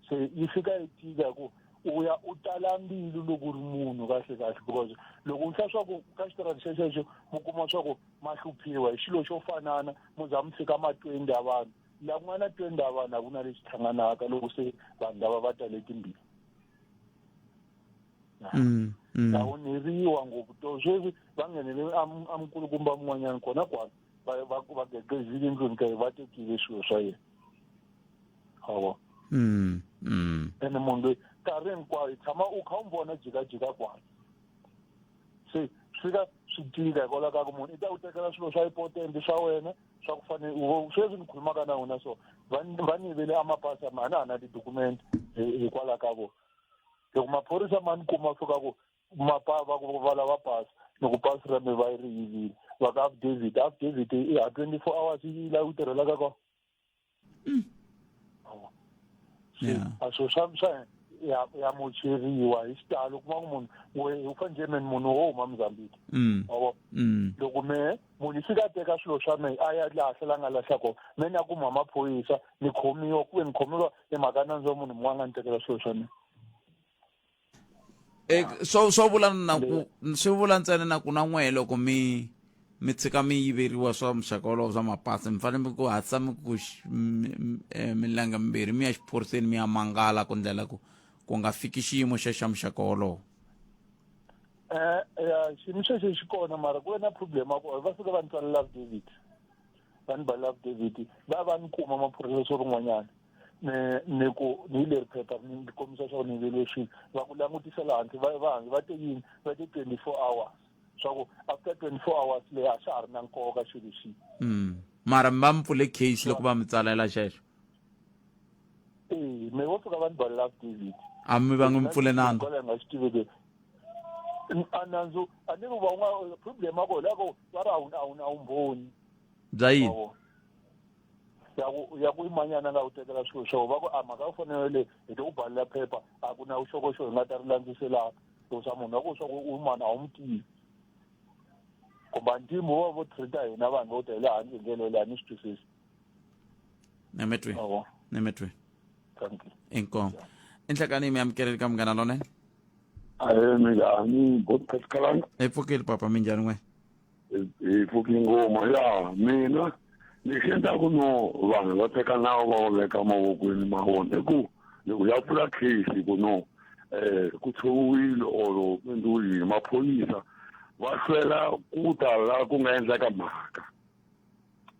[SPEAKER 5] so yi fika yi tika ku u ya u tala mbilu loko u ri munhu kahle kahle because loko u hla swaku ka xitirani xexexo mu kuma swa ku ma hluphiwa hi xilo xo fanana mu za mu fika ma twenty ya vanhu laha ku nga na twenty ya vanhu a ku na lexi tlhanganaka loko se vanhu lava va tale timbili mm, mm. ta onheriwa ngopfu to sweswi va nghenele amukulukumba mun'wanyana kona kwani va gegezile ndlwini ka ye va tekile swilo swa yena hawa mm, mm. ene munhu loyi nkarhi hinkwayo tshama u kha u n'wi vona jikajika kwani se swi ka swi tika hikwalaho ka ku munhu i ta ku tekela swilo swa ipotenti swa wena swa ku fanele sweswi ni khulumaka na wena so va ni yivele amapasi a na ha na tidokumenti hikwalaho ka vona loko maphorisa ma ni kuma fika ku mapa va ku va lava pasi loko pasi ra mi va yi ri yivile va ka affidavit affidavit i ha twenty four hours yi lavi ku tirhelaka kona mm. oh. yeah. a swilo swa swa ya ya mocheriwa hi xitalo kuma ku munhu we u fanele meni munhu wo huma mozambique mm. obo mm. loko me munhu fika teka swilo swa me a ya lahla la nga lahla kona me ni ya kuma maphoyisa ni khomiwa kuve ni khomiwa emhaka nandzo munhu mun'wana nga ni tekela swilo swa mina
[SPEAKER 1] e, swo swo vula na ku swi vula ntsena na ku na n'wehe loko mi mi tshika mi yiveriwa swa muxaka wolowo swa mapasi mi fanele mi ku hatlisa mi ku e, milenge mimbirhi mi ya xiphoriseni mi ya mangala ku ndlela ku ku nga fiki xiyimo xe xa muxaka wolowo um
[SPEAKER 5] ya xiyimo xexo xi kona mara ku ve na problem ya ku va fika va ni tsalela affidavit va ni ba love david va va ni kuma maphorisa swo rin'wanyana ni ni ku ni leri phepha ni ni kombisa swa ku ni velexini va ku langutisela hansi va va hangi va te yini va te twenty four hours swa ku after twenty four hours leyi a swa ha ri na nkoka xilo xihi mara mi
[SPEAKER 1] va mi pfule case loko va mi tsalela xexo ee
[SPEAKER 5] me vo fika va ni balela david a mi va n'wi mi pfule
[SPEAKER 1] nandzu a nga swi tiveke
[SPEAKER 5] a nandzu a ni ku va unga problem a ko la ko va ri a wu a wu a wu mbhoni bya yini ya ku ya ku imanyana nga u tekela swilo swo va ku a mhaka u fanele hi to u balela phepha a ku na vuxokoxoko hi nga ta ri landziselaka swa munhu wa ku swa ku u mani a wu mu tivi kumba ntimo va vo treata hina vanhu vo ta hi le handle ndlela leyi a ni swi twisisi nemetwe
[SPEAKER 1] Awa. nemetwe Thank you. inkomo inhlekani mi amukeleli ka munghana lonene Ahe mina ni
[SPEAKER 2] podcast kalanga. hi pfukile papa
[SPEAKER 1] minjhani n'we Hi
[SPEAKER 2] pfuki ngoma ya mina ni xenda ku no vanhu va teka nawu va wu veka mavokweni ma vona ku loko ya pfula case ku no eh ku tshoviwile or endliwile maphorisa va hlwela ku ta la ku nga endlaka mhaka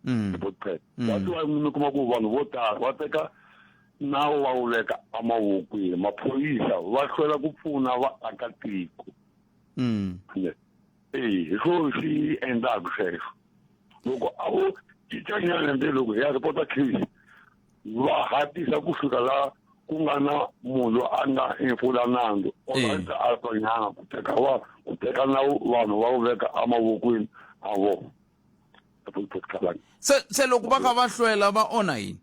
[SPEAKER 2] mm. boxpad mm. that's why mi kuma ku vanhu vo tala va teka nawu va wu veka emavokweni maphoyisa va hlwela ku pfuna vaakatiko mm. e hi swo swi endlaka sweswo loko a vo cincanyana nde loko hi ya repota case va hatisa ku fika laha ku nga na munhu a nga hefula nandzu oanti a tonyanga ku teka va ku teka na vanhu va wu veka emavokweni a vona se
[SPEAKER 1] se loko va kha va hlwela va onha yini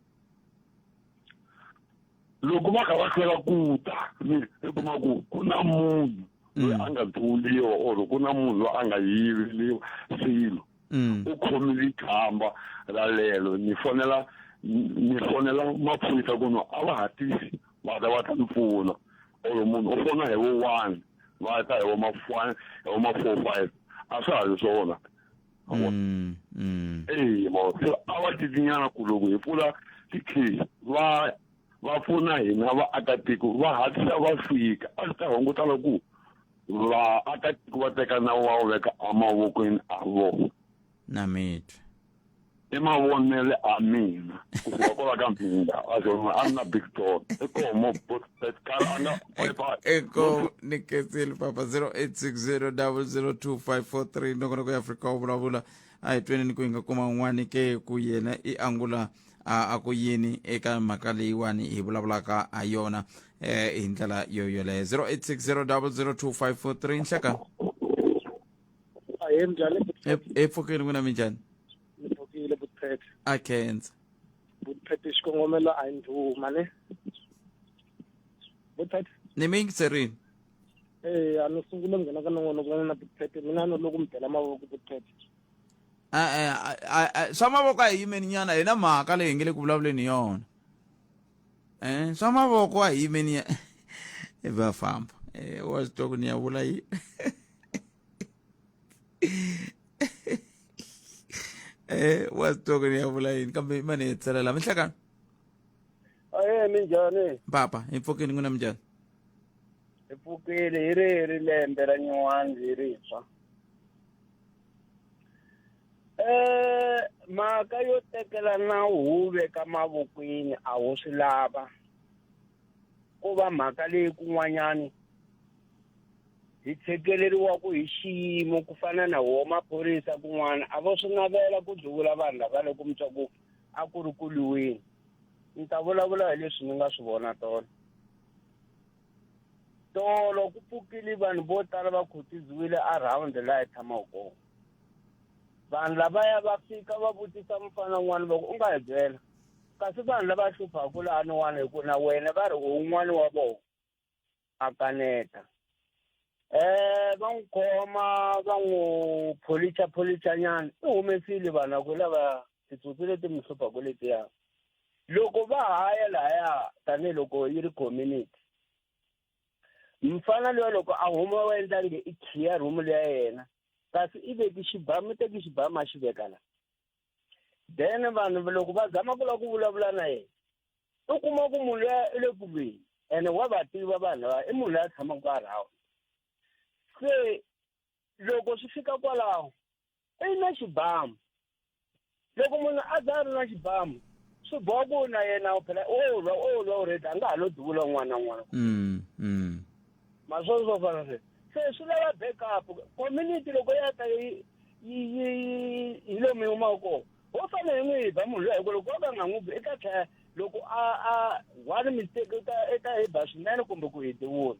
[SPEAKER 2] loko va kha va hlwela ku ta mi i kuma ku ku na munhu loyi a nga duvuriwa or ku na munhu loyi a nga yiveliwa swilo mm. u khomile khamba ra lelo ni fonela ni fonela maphorisa ku no a va hatlisi va ta va ta ni pfuna or munhu u fona hi vo one va ta hi vo ma-one hi vo ma-four five a swa ha ri swona Mm, mm. ee mo se a va titinyana kuluku hi pfula tikhizi va va pfuna hina vaakatiko va hatlisa va fika a swi ta hunguta loko vaakatiko va teka nawu wa wu veka emavokweni a vona na mitwe
[SPEAKER 1] i
[SPEAKER 2] mavonele a mina kusuka kwala ka mpinda a ze a ni na big door i koho mo botkar a nga
[SPEAKER 1] eko ni ketseli papa 0860002543 nokona ku afrika u vulavula a hi tweni ni ku hi nga kuma un'wani ke ku yena i angula a a ku yini eka mhaka leyiwani hi vulavulaka ha yona eh hi ndlela yo yoleyo 0860002543 nhleka ahee minjhani e pfukile n'wina minjhani ni pfukile
[SPEAKER 8] butiphethe a khensa
[SPEAKER 1] butiphethe
[SPEAKER 8] xikongomelo a yi ndhuma ne butiphethe ni mi yingiserini
[SPEAKER 1] ee
[SPEAKER 8] a ni sungule nghena ka nongonoko wa n'wina butiphethe mina no loko mi bela mavoko butiphethe e-e
[SPEAKER 1] swa mavoko a hi yimeni nyana hi na mhaka leyi hi nge le ku vulavuleni hi yona eh, swa mavoko a hi yimeni ya i va famba eh, wa swi twa ku ni ya vula yi eh, wa swi twa ku ni ya vula yini kambe mane hi tselela minhlekano aye
[SPEAKER 8] minjhani papa hi pfukini n'wina
[SPEAKER 1] minjhani
[SPEAKER 8] hi pfukile hi ri hi ri lembe ra nyuwani hi rintshwa Eh, mhaka yo tekela nawu wu veka mavokweni a wu swi lava ko va mhaka leyi kun'wanyani hi tshekeleriwa ku hi xiyimo ku fana na wo maphorisa kun'wana a vo swi navela ku duvula vanhu lava loko mi twa ku a ku ri ku lwiweni ni ta vulavula hi leswi ni nga swi vona tolo tolo ku pfukile vanhu vo tala va khutiziwile around laha hi tshamaka kona vanhu lavaya va fika va vutisa mufana wun'wana va ku u nga hi byela kasi vanhu lava hluphaku laniwana hi ku na wena va ri u wun'wana wa vona
[SPEAKER 9] a kaneta eh va n'wi khoma va n'wi pholicha pholicha nyana i humesile vanhu va ku lava titsotsi leti mi hluphaku letiya loko va haya lahaya tanihiloko yi ri community mfana loyi loko a huma wa endla nge i khiya room leya yena kasi i veki xibamu teki xibamu a xi veka la then vanhu loko va zama ku lava ku vulavula na yena u kuma ku munhu loya i le kulweni ene wa va tiva vanhu lava i munhu loyi a tshamaka a rhawa se loko swi fika kwalaho i na xibamu loko munhu a za a ri na xibamu swi boha ku na yena phela o lwa o lwa u redi a nga ha lo duvula un'wana na un'wana mm, mm. maswona swo fana sweswo se swi lava backup community loko ya ta yi yi hi lomu yi humaka kona ho fane hi n'wi ba munhu loyi hi ku loko va ka nga n'wi bi i ta tlhela loko a a one mistake i ta i ta hi ba swinene kumbe ku hi diwula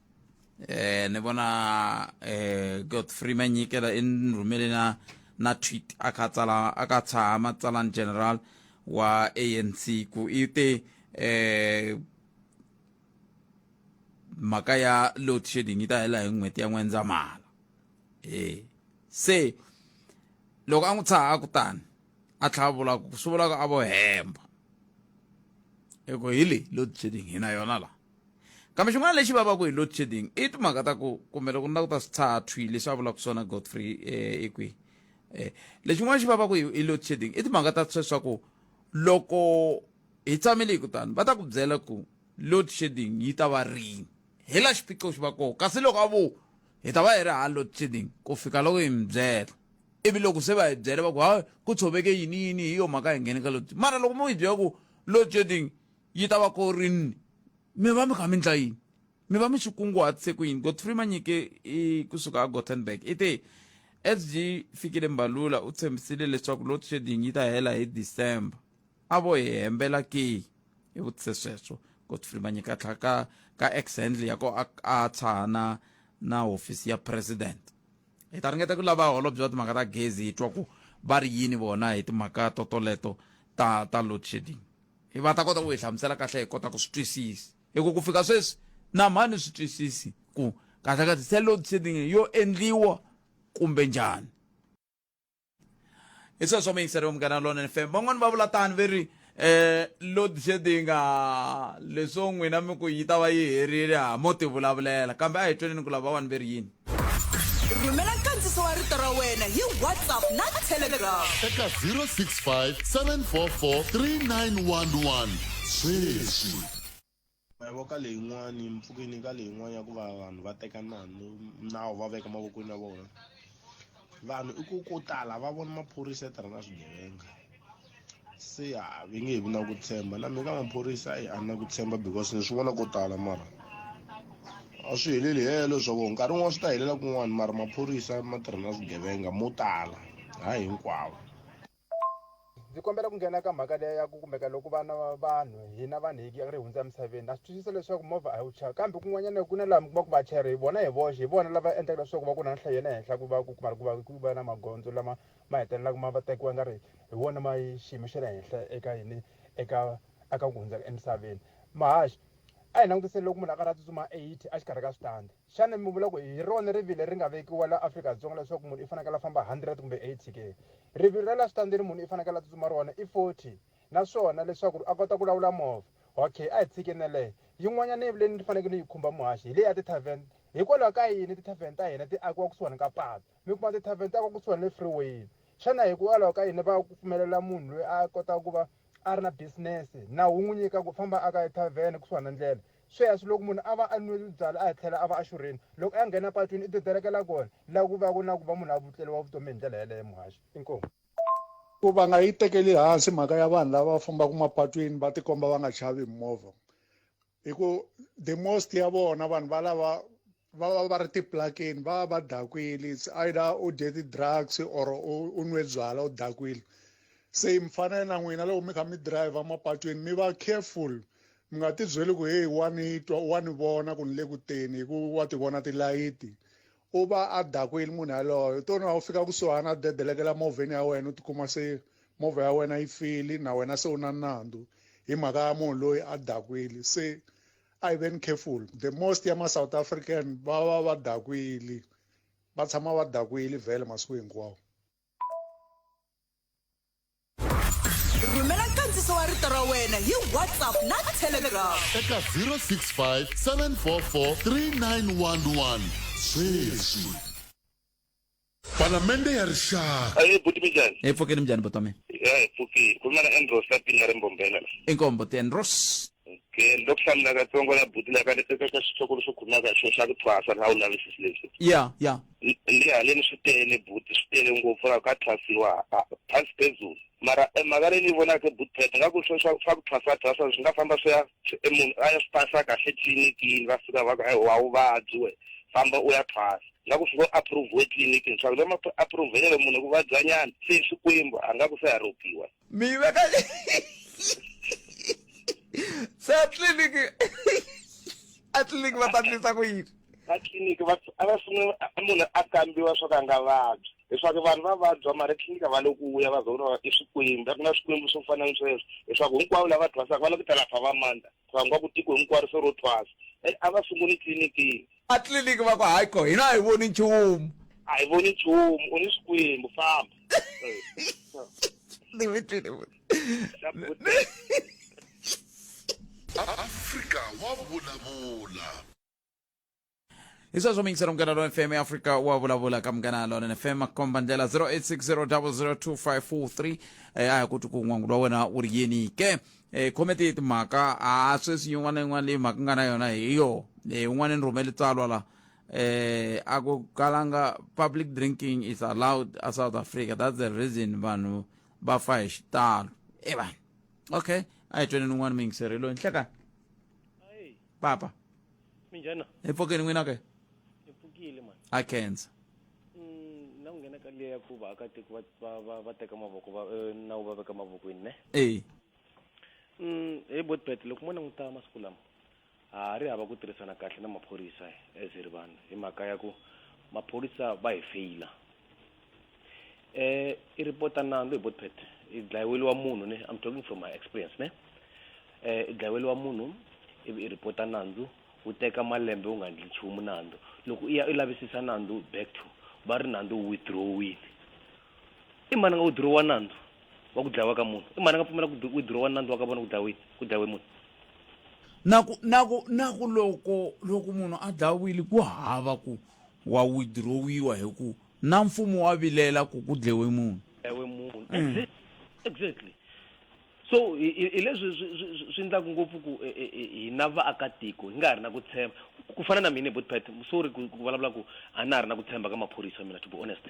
[SPEAKER 1] eh ni vona eh Godfrey Manyikela i rhumele na na tweet a kha tsala a ka tshama tsalan general wa ANC ku i te eh mhaka ya load shedding yi ta hela hi n'hweti ya n'wendzamhala eh se loko a n'wi tshaha kutani a tlhava vula ku swi vulaka a vo hemba eku hi leyi load shedding hi na yona laha Kambe xin'wana lexi vavaka hi load shedding i timhaka ta ku kumbe loko ni la ku ta swi tshaha thwi leswi a vulaka swona godfrey um eh, i kwihi um eh, lexin'wana xi vavaka hi load shedding i timhaka ta sweswa ku loko hi tshamile hi kutani va ta ku byela ku load shedding yi ta va rini hi la xiphiqo xi va koho kasi loko a vo hi ta va hi ri ha load shedding ku fika loko hi mi byela ivi loko se va hi byele va ku ha ku tshoveke yini yini hi yo mhaka hi nghene ka load mara loko mo hi byela ku load shedding yi ta va ku ri ni mi va mi kha mi ndla yini mi va mi swi kunguhatise ku yini godfrey manyike i kusuka a gothenburg i te as byi fikile mbalula u tshembisile leswaku load shedding yi ta hela hi december a vo hi hembela ke i vutise sweswo godfrey manyike a tlhaka ka ex handle ya ko a a tshahana na hofisi ya president hi ta ringeta ku lava holobye wa timhaka ta gezi hi twa ku va ri yini vona hi timhaka totoleto ta ta load shedding hi va ta kota ku hi hlamusela kahle hi kota ku swi twisisa hi ku ku fika sweswi na mhani swi twisisi ku kahle kahle se load shedding yo endliwa kumbe njhani hi sweswo mi yingiseriwe munghana lona fm van'wani va vula tani ve ri eh load shedding leswo n'wina mi ku yi ta va yi herile ha mo tivulavulela kambe a hi tweneni ku lava vanhu ve ri yini rhumela
[SPEAKER 3] nkandziso wa rito ra wena hi whatsapp na telegram eka 065 744 3911
[SPEAKER 10] sweswi
[SPEAKER 11] mavoko ka leyin'wani mpfukeni ka leyin'wani ya ku va vanhu va teka nanu nawu va veka mavokweni ya vona vanhu i ku ko tala va vona maphorisa ya tirha na swigevenga se a va nge vi na ku tshemba na mina ka maphorisa a ni na ku tshemba because ni swi vona ko tala mara a swi heleli helo leswaku nkarhi wun'wana swi ta helela kun'wana mara maphorisa ma tirha na swigevenga mo tala hayi hinkwavo
[SPEAKER 12] ndzi kombela ku nghena ka mhaka leya ya ku kumeka loko vana va vanhu hina vanhu hi ri hundza emisaveni na swi twisisa leswaku movha a yi wu chava kambe kun'wanyana ku na laha mi kuma ku vachayeri hi vona hi voxe hi vona lava endlaka leswaku va ku na nhlayo ya le henhla ku va ku kuma ku va ku va na magondzo lama ma hetelelaka ma va tekiwa nga ri hi wona ma yi xiyimo xa le henhla eka yini eka aka ku hundza emisaveni mahaxi a hi langutiseni loko munhu a karhi a tsutsuma eighty a xikarhi ka switandi xana mi vula ku hi rona rivilo ri nga vekiwa la afrika dzonga leswaku munhu i fanekele a famba hundred kumbe eighty ke rivilo ra la switandini munhu i fanekele a tsutsuma rona i forty naswona leswaku ri a kota ku lawula movha okay a hi tshikineleyo yin'wanyana yi vuleni ni fanekele ni yi khumba muhaxi hi leyi ya ti-tarven hikwalaho ka yini ti-tarven ta hina ti akiwa kusuhani ka patu Hikuva ti-tarven ta va kusuhani ni freeway xana hikwalaho ka yini va ku pfumelela munhu loyi a kotaka ku va a ri na business nawu wu n'wi nyika ku famba a ka ethavhene kusuhani na ndlela sweswi loko munhu a va a nwile byala a hi tlhela a va a xurhile loko a nghena patwini i dedelekela kona la ku va ku na ku va munhu a vutleriwa vutomi hi ndlela yeleyo muhaxi inkomu ku va
[SPEAKER 13] nga yi tekeli hansi mhaka ya vanhu lava va fambaka mapatwini va tikomba va nga chavi hi mimovha hi ku the most ya vona vanhu va lava va va va ri tiplakeni va va va dakwile its either u dye ti-drugs or u nwe byala u dakwile se mi fanele na n'wina loko mi kha mi drive mapatwini mi va careful mi nga ti byeli ku heyi wa ni twa wa ni vona ku ni le ku teni hi ku wa ti vona tilayiti U va a dakwile munhu yaloye, u to na u fika kusuhana a dedeleke la movheni ya wena u tikuma se movha ya wena yi file na wena se u na nandzu hi mhaka ya munhu loyi a dakwile se a hi veni careful the most ya ma-south african va va va dakwile va tshama va dakwile vhele masiku hinkwawo
[SPEAKER 3] rhumela nkandziso wa rito ra wena hi whatsapp na
[SPEAKER 10] telegram eka 065 744 3911 sweswi palamende ya rixaka ayi buti minjani hi
[SPEAKER 9] pfukeni minjhani buti wa mina
[SPEAKER 1] ya hi pfukile ku nga
[SPEAKER 9] na andros ka pinga ri mbombela la inkombo ti andros
[SPEAKER 1] ke ni lo ku
[SPEAKER 9] hlamula katsongo la buti la ka eka ka xitokolo xo khumaka xo xa ku thwasa la wu lavisisi leswi ya ya
[SPEAKER 1] ndi haleni
[SPEAKER 9] swi tele buti swi tele ngopfu ra ka thwasiwa thasi phezulu mara eh, mhaka leyi ni yi vonaka butpet nga ku swa swa ku thwasa thwasa swi nga famba swi ya eh, munhu a ya swi pasa kahle tliliniki va fika va ku eh, wa vuvabyi we famba u ya thwasa nga ku swi ngo approve etliliniki swa ku lama approvelelo munhu ku vabyanyana se swikwembu a nga ku se haropiwa Meyve kaç...
[SPEAKER 1] Satlilik. Atlilik vatandisa ku yini? Atlilik
[SPEAKER 9] va va funa munhu a kambiwa swo ka nga vabyi. leswaku vanhu va vabya mara tliliniki va le ku vuya va zona i swikwembu a ku na swikwembu swo fana ni sweswo leswaku hinkwavo lava thwasaka va lava ku ta lapha va mandza va nga ku tiko hinkwaro se ro thwasa a va sunguli tliliniki A tliliniki va ku,
[SPEAKER 1] Hayi ko, hina a hi voni nchumu. A hi voni
[SPEAKER 9] nchumu, u ni swikwembu, famba. Ni mi twile futhi.
[SPEAKER 10] Afrika wa vulavula.
[SPEAKER 1] Hi sweswo mi yingisela Munghana Lonene FM Afrika wa vulavula ka Munghana Lonene FM komba ndlela 0860 002 543 eh, a hi ku twi ku n'wangu wa wena wu ri yini ke E, khomete hi timhaka a sweswi yin'wana na yin'wana leyi mhaka nga na yona hi yo e, un'wana ni rhumele tsalwa la eh a ku kalanga public drinking is allowed a south africa that's the reason vanhu va fa hi xitalo e vanhu okay a hi tweni ni un'wana muyingiseri loyi nhlekani papa
[SPEAKER 7] minjhana empfokeni n'wina ke
[SPEAKER 1] ni pfukile
[SPEAKER 7] mani a khensa
[SPEAKER 1] Mm,
[SPEAKER 7] na ku nghena ka liya ya ku vaakatiko va- va- va- va teka mavoko va- eh, nawu va veka mavokweni ne e Mm, he botbet loko mo languta masiku lama a ha ri hava ku tirhisana kahle na maphorisa as hi ri vanhu hi mhaka ya ku maphorisa va hi feyila eh i report nandzu hi botpet i dlayiweliwa munhu ne i'm talking from my experience ne eh i dlayiweliwa munhu ivi i report nandzu wu teka malembe wu nga ndli nchumu nandzu loko i ya i lavisisa nandzu back to va ri nandzu wu withdrawini i mani a nga withdrawa nandzu wa ku dlayiwa ka munhu i mani a nga pfumela ku withdrawa nandzu wa ka vona ku dlayiwini ku dlayiwe munhu na ku na ku
[SPEAKER 1] na ku loko loko munhu a dlawile ku hava ku wa withdrawiwa hi ku Na mfumo wa vilela ku ku dlewe munhu. ewe munhu Mm. Exact-
[SPEAKER 7] exactly so hi- hi hi leswi swi- swi- swi- swi endlaka ngopfu ku eh, eh, eh, hina vaakatiko hi nga ha ri na ku tshemba Ku- ku fana na mina botpat sorry ku ku vulavula ku a na ha ri na ku tshemba ka maphorisa mina to be honest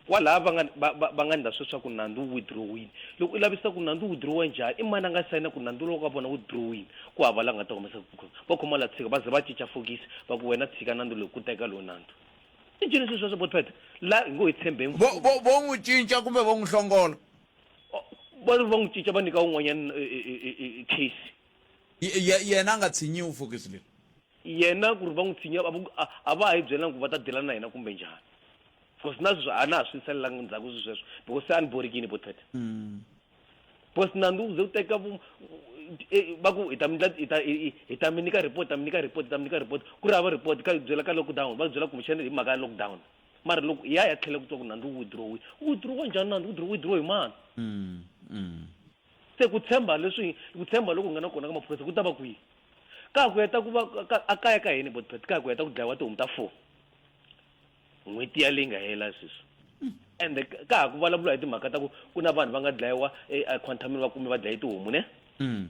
[SPEAKER 7] kwalaha va nga va- va- va nga ndla sweswaku nandzu wu withdrawini loko i lavisisa ku nandzu wu withdrowa njhani i mani a nga sayina ku nandzu lowu ka vona wu withdrawini ku hava la nga ta humesa ku khoma va khoma la tshika va ze va cinca fokisi va ku wena tshika nandzu lowu ku teka lowu nandzu i byi leswi sweswo botpet la hi ngo hi tshembeni vo vo vo n'wi cinca
[SPEAKER 1] kumbe vo n'wi hlongola va
[SPEAKER 7] ri va n'wi cinca va nyika un'wanyana eh, eh, eh, eh, case Ye-
[SPEAKER 1] ye- yena a nga tshinyiwi fokisi leri yena ku ri
[SPEAKER 7] va n'wi tshinya a va- a- a va ha yi byelanga ku va ta dela na yena kumbe njhani because na sweswi a na ha swi nsalelangi ndzhaku swi sweswo because se a ni borikini botpet Mm. because nandzu wu ze wu teka e, va ku hi ta mi ndla hi ta hi ta mi nyika report ta mi nyika report ta mi nyika report ku ri hava report ka byela ka lockdown va byela kumbexana hi mhaka ya lockdown mara loko hi ya ya tlhela ku twa ku nandzu wu withdrawi wu withdrawa njhani nandzu wu withdraw hi mani mm, mm. se ku tshemba leswi ku tshemba loko hi nga na kona ka maphorisa ku ta va kwihi ka ku heta ku va a kaya ka hini botpet ka ku heta ku dlayiwa tihomu ta four n'hweti ya leyi nga hela sweswi ende ka ka ha ku vulavula hi timhaka ta ku ku na vanhu va nga dlayiwa equantamini va kume va dlaye tihomu ne Mm.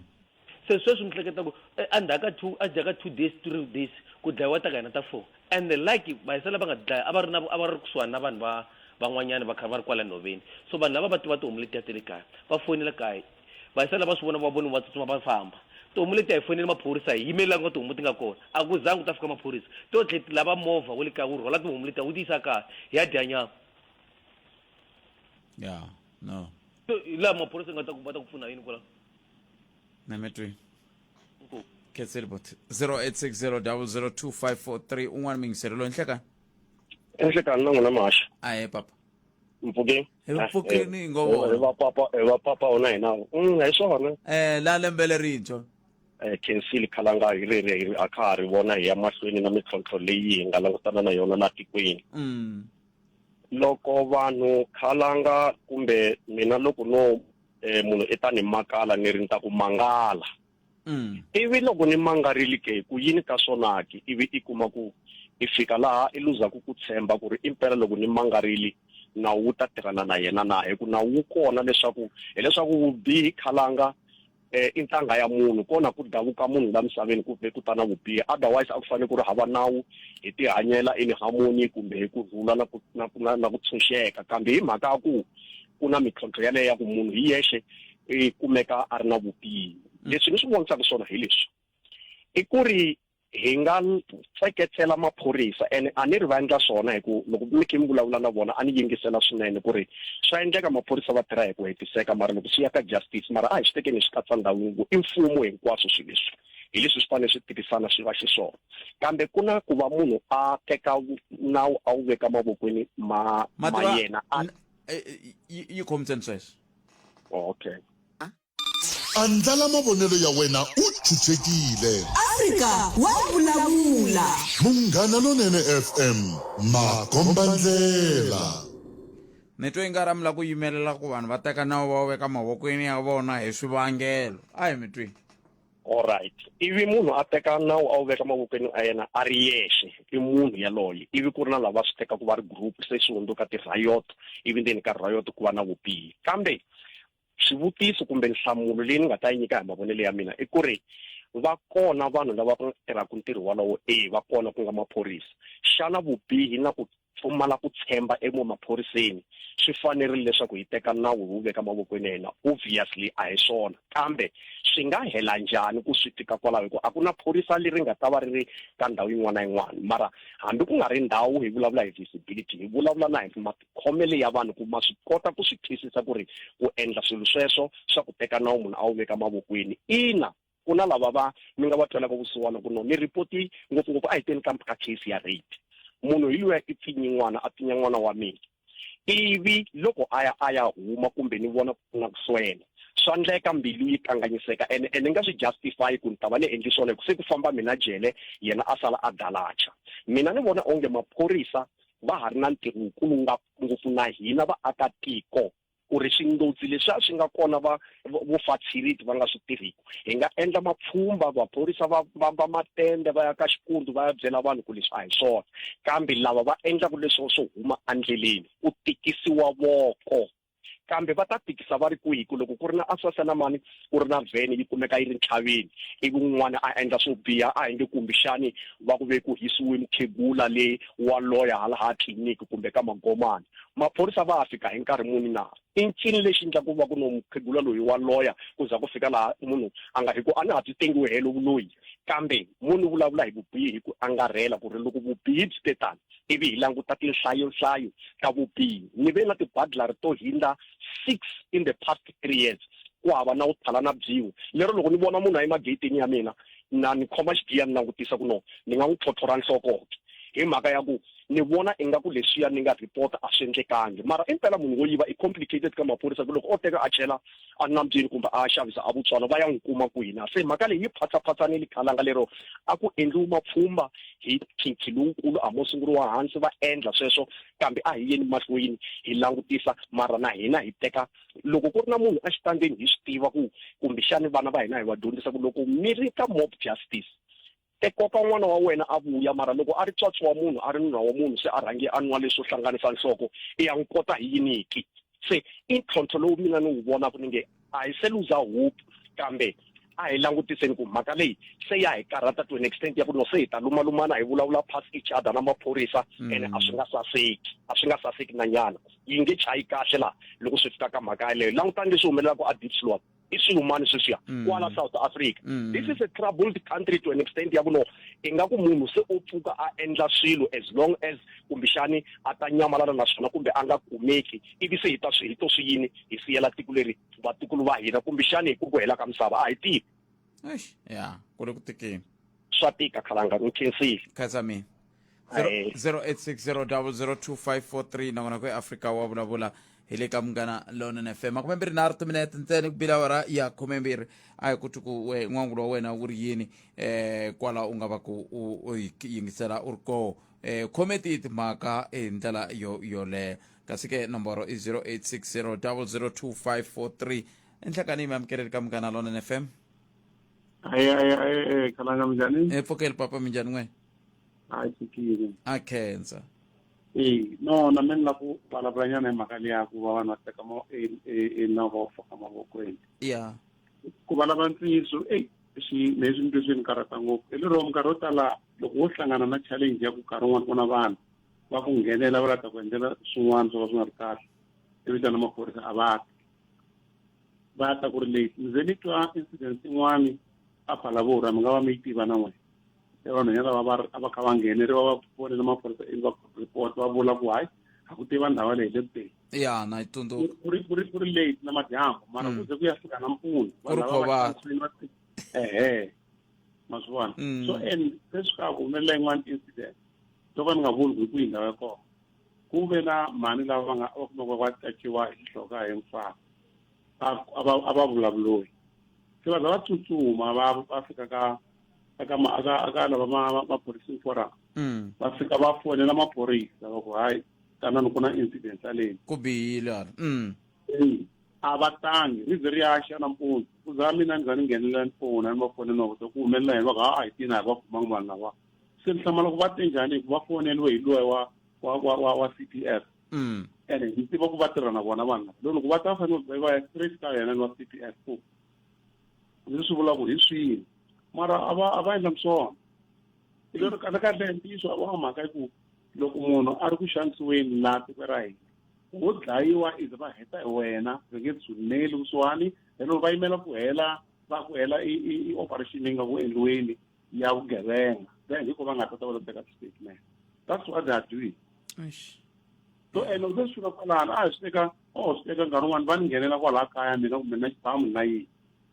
[SPEAKER 7] se sweswi ni hleketa ku eh, endzhaku ka two endzhaku ka two days three days ku dlayiwa ta ka hina ta four and like vayisela va nga dlaya a va ri na a va ri kusuhani na vanhu va van'wanyana va kha va ri kwala nhoveni so vanhu lava va tiva tihomu letiya te le kaya va fonela kaya Vayisani lava swi vona va voni va tsutsuma va famba. Tihomu leti a hi foneli maphorisa hi yimerile la ku nga tihomu ti nga kona. A ku zangi ku ta fika maphorisa. To tlhe ti lava movha wa le kaya wu rhwala tihomu letiya wu ti yisa kaya hi ya dya nyama.
[SPEAKER 1] Ya, no. So hi laha maphorisa
[SPEAKER 7] nga ta ku va ta ku pfuna yini kwala. Na
[SPEAKER 1] mi twi. Inkomu. Khetseli bot 0860 002 543 un'wana mingiseri loyi nhlekani. Enhlekani
[SPEAKER 4] na n'wina maxa. A he papa.
[SPEAKER 1] mpfukeni
[SPEAKER 4] Hi Mpfhukeni hi
[SPEAKER 1] ngo vona. hi vapapa hi vapapa
[SPEAKER 4] ona hina Mm, hi swona eh la lembe
[SPEAKER 1] lerintshwa Eh, khensile
[SPEAKER 4] khalanga hi ri ri a kha ha ri vona hi ya mahlweni na mintlhontlho leyi hi nga langutana na yona la tikweni mm loko vanhu khalanga kumbe mina loko no eh, munhu i ta ni makala ni ri ni ta ku mangala Mm. ivi loko ni mangarili ke ku yini ka swona ke ivi i kuma ku i fika laha i luzaku ku tshemba ku ri impela loko ni mangarili nawu wu ta tirhana na yena na hi ku nawu wu kona leswaku hileswaku vubihi khalanga eh, i ntanga ya munhu kona ku davuka munhu la misaveni ku ve ku ta na vubihi otherwise a ku fanele ku ri hava nawu hi tihanyela in harmony kumbe hi ku rhula na ku na ku na ku tshunxeka kambe hi mhaka ya ku ku na mintlhontlho yaleyo ya ku munhu hi yexe i kumeka a ri na vubihi leswi ni swi vonisaka swona hi leswi i ku ri hi nga tseketsela maphorisa ene a ni ri va endla swona hi ku loko mi khe mi vulavula na vona a ni yingisela swinene ku ri swa endleka maphorisa va tirha hi ku hetiseka mara loko swi ya ka justice mara a hi swi tekeni swi katsa ndhawu yin'we i mfumo hinkwaswo swi leswi hi leswi swi fanele swi tirhisana swi va xiswona kambe ku na ku va munhu a teka nawu a wu veka mavokweni ma ma yena a eh,
[SPEAKER 1] eh, yi khomiseni sweswo okay
[SPEAKER 10] andlala mavonelo ya wena u chuchekile afrika
[SPEAKER 3] wa vulavula munghana
[SPEAKER 10] lonene fm makombandlela ni twe
[SPEAKER 1] nga ramula ku yimelela ku vanhu va teka nawu va wu veka mavokweni ya vona hi swivangelo a hi mi tweni Alright,
[SPEAKER 4] ivi munhu a teka nawu a wu veka mavokweni a yena a ri yexe, i munhu yaloye, ivi ku ri na lava swi tekaka va ri group, se swi hundzuka ti-riot, ivi ndzeni ka riot ku va na vubihi. Kambe swivutiso kumbe nhlamulo leyi ni nga ta yi nyika hi mavonelo ya mina i ku ri va kona vanhu lava tirhaka ntirho walowo, e va kona ku nga maphorisa. Xana vubihi na ku pfumala ku tshemba emaphoriseni swi fanerile leswaku hi teka nawu hi wu veka mavokweni ya hina obviously a hi swona kambe swi nga hela njhani ku swi tika kwalaho hi ku a ku na phorisa leri nga ta va ri ri ka ndhawu yin'wana na yin'wana mara hambi ku nga ri ndhawu hi vulavula hi visibility hi vulavula na hi matikhomele ya vanhu ku ma swi kota ku swi twisisa ku ri ku endla swilo sweswo swa ku teka nawu munhu a wu veka mavokweni ina Ku na lava va mi nga va twelaka vusiwana ku no ni ripoti ngopfungopfu a hi teni ka ka case ya rape munhu hi luya i pfinyi n'wana a pfinya n'wana wa mina ivi loko a ya a ya huma kumbe ni vona ku na ku swela swa ndleka mbilu yi kanganyiseka ene ene nga swi justify ku ni ta va ni endli swona ku se ku famba mina jele yena a sala a dalacha mina ni vona onge maphorisa va ha ri na ntirho wukulu ngopfu na hina vaakatiko ku ri swingqodzi leswi a swi nga kona va vo fatsiriti va nga swi tirhiki hi nga endla mapfhumba vaphorisa va vamba matende va ya ka xikundu va ya byela vanhu ku leswi a hi swona kambe lava va endlaka leswo swo huma endleleni ku tikisiwa voko kambe va ta tikisa va ri kwihi ku loko ku ri na asasa na mani ku ri na vhene yi kumeka yi ri ntlhaveni ivi un'wana a endla swo biha a hi nge kumbixani va ku ve ku hisiwe mukhegula le wa loya hala ha tliliniki kumbe ka magomani maphorisa va fika hi nkarhi muni na i ncini lexi ndla ku va ku no mukhegula loyi wa loya ku za ku fika laha munhu a nga hi ku a na ha byi tengiwe helo vuloyi kambe mo ni vulavula hi vubihi hi ku angarhela ku ri loko vubihi byi te tani ivi hi languta tinhlayohlayo ta vubihi ni ve na tibadlari to hindza six in the past three years ku hava na wu thala na byin'we lero loko ni vona munhu a yimageyitini ya mina na ni khoma xigiya ni langutisa ku no ni nga n'wi tlhotlhora nhlokoke hi mhaka ya ku ni vona ingaku leswiya ni nga report a swi endlekangi mara impela munhu wo yiva i complicated ka maphorisa ku loko o teka a chela a nambyeni kumbe a xavisa a vutswalo va ya n'wi kuma kwihi na se mhaka leyi yi phatsaphasani khalanga lero a ku endliwi mapfhumba hi khinkhi lowukulu a mo sunguriwa hansi va endla sweswo kambe a hi yeni mahlweni hi langutisa mara na hina hi teka loko ku ri na munhu exitandzeni hi swi tiva ku kumbexani vana va hina hi va dyondzisa ku loko mi ri ka mob justice te koka n'wana wa wena a vuya mara loko a ri tswatsi wa munhu a ri nuna wa munhu se a rhange a nwa leswo hlanganisa nhloko i ya n'wi kota hi yiniki se i ntlhontlho lowu mina ni wu vonaka ni nge a hi se luza hope kambe a hi langutiseni ku mhaka leyi se ya hi karhata to an extent ya ku no se hi ta lumalumana hi vulavula pass each other na maphorisa mm. ene a swi nga saseki a swi nga saseki na nyana yi nge chayi kahle laha loko swi fika ka mhaka yeleyo langutani leswi humelelaka a deep slot i
[SPEAKER 14] swihumani sweswiya mm. kwala south africa mm. this is a troubled country to an extent ya kuno ingaku munhu se o pfuka a endla swilo as long as kumbexani a ta nyamalala na swona kumbe a nga kumeki ivi se hi ta swi hi to swi yini hi siyela tiko leri vatukulu va hina kumbexani hi ku ku hela ka misava a hi tivi eish ya
[SPEAKER 1] ku le ku tikeni swa tika
[SPEAKER 14] khalanga u khensile khatsa mina
[SPEAKER 1] Aye. 0860002543 nakona ku eafrika wa vulavula hi le ka munghana lonene fm makume mbirhi nharhu timinete ntsene ku bila awara ya khume mbirhi a hi ku ti ku we- n'wangulo wa wena wu ri yini um kwala u nga va ku u u yi yingisela u ri koho um khome tiyi timhaka hi ndlela yo yoleyo kasi ke nomboro i 0860002543 enhlakani mi amukeleli ka munghana lonene fm hayi hayi hayi eh,
[SPEAKER 15] khalanga minjhani e pfokeli papa minjhani n'we
[SPEAKER 1] hayi
[SPEAKER 15] tshikile a khensa
[SPEAKER 1] e
[SPEAKER 15] no na mina ni lava ku vulavulanyana hi mhaka leya ku va vanhu va teka ma- e- e- e nawu va wu faka mavokweni ya
[SPEAKER 1] ku valava
[SPEAKER 15] ntiyiso eyi swi leswi nitwe swi ni karhata ngopfu hi lero minkarhi yo tala loko wo hlangana na challenge ya ku nkarhi wun'wana ku na vanhu va ku nghenela va lava ta ku endlela swin'wana swo ka swi nga ri kahle i vitana maphorisa a va ti va ta ku ri leti ndzi ni twa incident yin'wani a phalavura mi nga va mi yi tiva na n'wina se vanhwanyana lava a va kha va ngheneri va va fonela maphorisa ivi va report va vula ku hayi a ku tiva ndhawu leyi le kuteni ya na yi tsundzuka
[SPEAKER 1] ku ri ku ri ku ri
[SPEAKER 15] late na madyambu mara mm. ku ze ku ya fika nampundzu vanhu lava va ehe ma swi vona mm. so and se swi ka ku humelela yin'wana incident to ka ni nga vuli ku hi kwihi ndhawu ya kona ku ve na mani lava va nga va kumeka va tsakiwa hi nhloka hi mfana a va vulavuloyi se va za va tsutsuma va va fika ka aka ma aka aka lava ma maphoriseni fora mm. va fika va fonela maphorisa va ku hayi tanani ku na incident yaleyi ku bihile ala
[SPEAKER 1] mm.
[SPEAKER 15] a va tangi ri ze ri ya xa nampundzu ku za mina ni za ni nghenelela ni fona ni va fonela ni va vuta ku humelela yini va ku ha a hi tina a hi va kumanga vanhu lava se ni hlamala ku va te njhani hikuva va foneliwe hi loyi wa wa wa wa wa c p f mm. ene ni tiva ku va tirha na vona vanhu lava loko va ta fanele va ya straight ka yena ni wa c p f ku ndzi swi vula ku hi swini mara a va a va endla swona i lero kahle kahle ntiyiso a wa mhaka ku loko munhu a ri ku xanisiweni laha tiko ra hina wo dlayiwa ize va heta hi wena va nge tshuneli kusuhani helero va yimela ku hela va ku hela i operation yi nga ku endliweni ya vugevenga then hiko va nga ta ta va teka statement that's what they are doing so ene u se swi fika kwalano a hi swi teka o swi teka nkarhi wun'wani va ni nghenela kwalaha kaya mina kumbe na xibamu na yini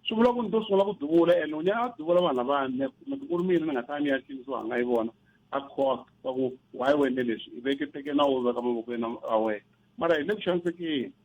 [SPEAKER 15] swi vula ku ni to sungula ku duvula ene u nyaka a duvula vanhu lavani kumbe ku ri mina ni nga ta ni ya xinisiwa nga yi vona a cost va ku why wene leswi i veke teke na wo veka mavokweni a wena mara hi le ku xanisekeni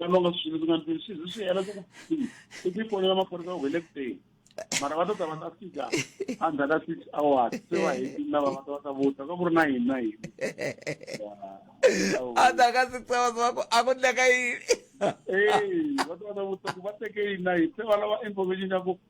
[SPEAKER 15] lama nga swi ndzi nga ndzi swi swi hela ku i ti fonela maphorisa u hele kuteni mara va ta ta va ta fika endzhaku ka six hours se va heti lava va ta va ta vuta ka ku ri na yini na yini
[SPEAKER 1] endzhaku ka six hours va ku a ku ndleka yini ee va
[SPEAKER 15] ta va ta vuta ku va teke yini na yini se va lava information ya ku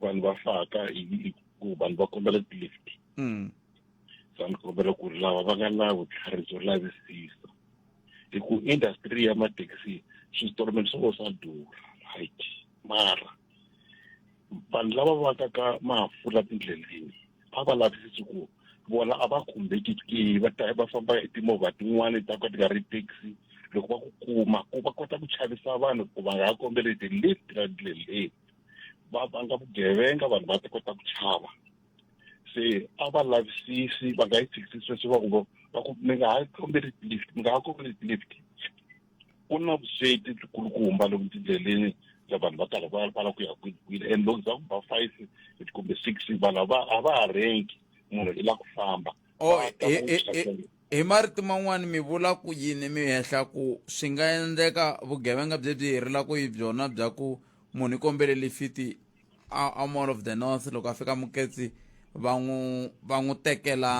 [SPEAKER 2] vanhu va faka ku vanhu va kombela ti-lift mm. so ni kombela ku ri lava va nga na vutlhari byo lavisisa hi ku industry ya mathekisi switoromelo swo swa durha right mara vanhu lava va ka ka mafula tindleleni a va lavisisi ku vona a va khumbeki ke va ta va famba hi timovha tin'wana ta ka ti nga ri taxi loko va ku kuma ku va kota ku chavisa vanhu ku va nga ha kombeli ti-lift ra ndleleni va vanga vugevenga vanhu va ta kota ku chava se
[SPEAKER 15] a va lavisisi va nga yi tshikisisi sweswi va ku va ku mi nga ha kombeli lift mi nga ha kombeli lift ku na vusweti byikulukumba lomu tindleleni ya vanhu va karhi va va la ku ya kwini and loko za ku ba five kumbe six vanhu a va a va ha renki munhu i la ku famba oh, e, e, e,
[SPEAKER 1] Hi marito man'wana mi vula ku yini mi hehla ku swi nga endleka vugevenga byebyi hi rilaka hi byona bya ku munhu i kombele lifiti a, a mall of the north loko a fika muketsi va n'wi va n'wi tekela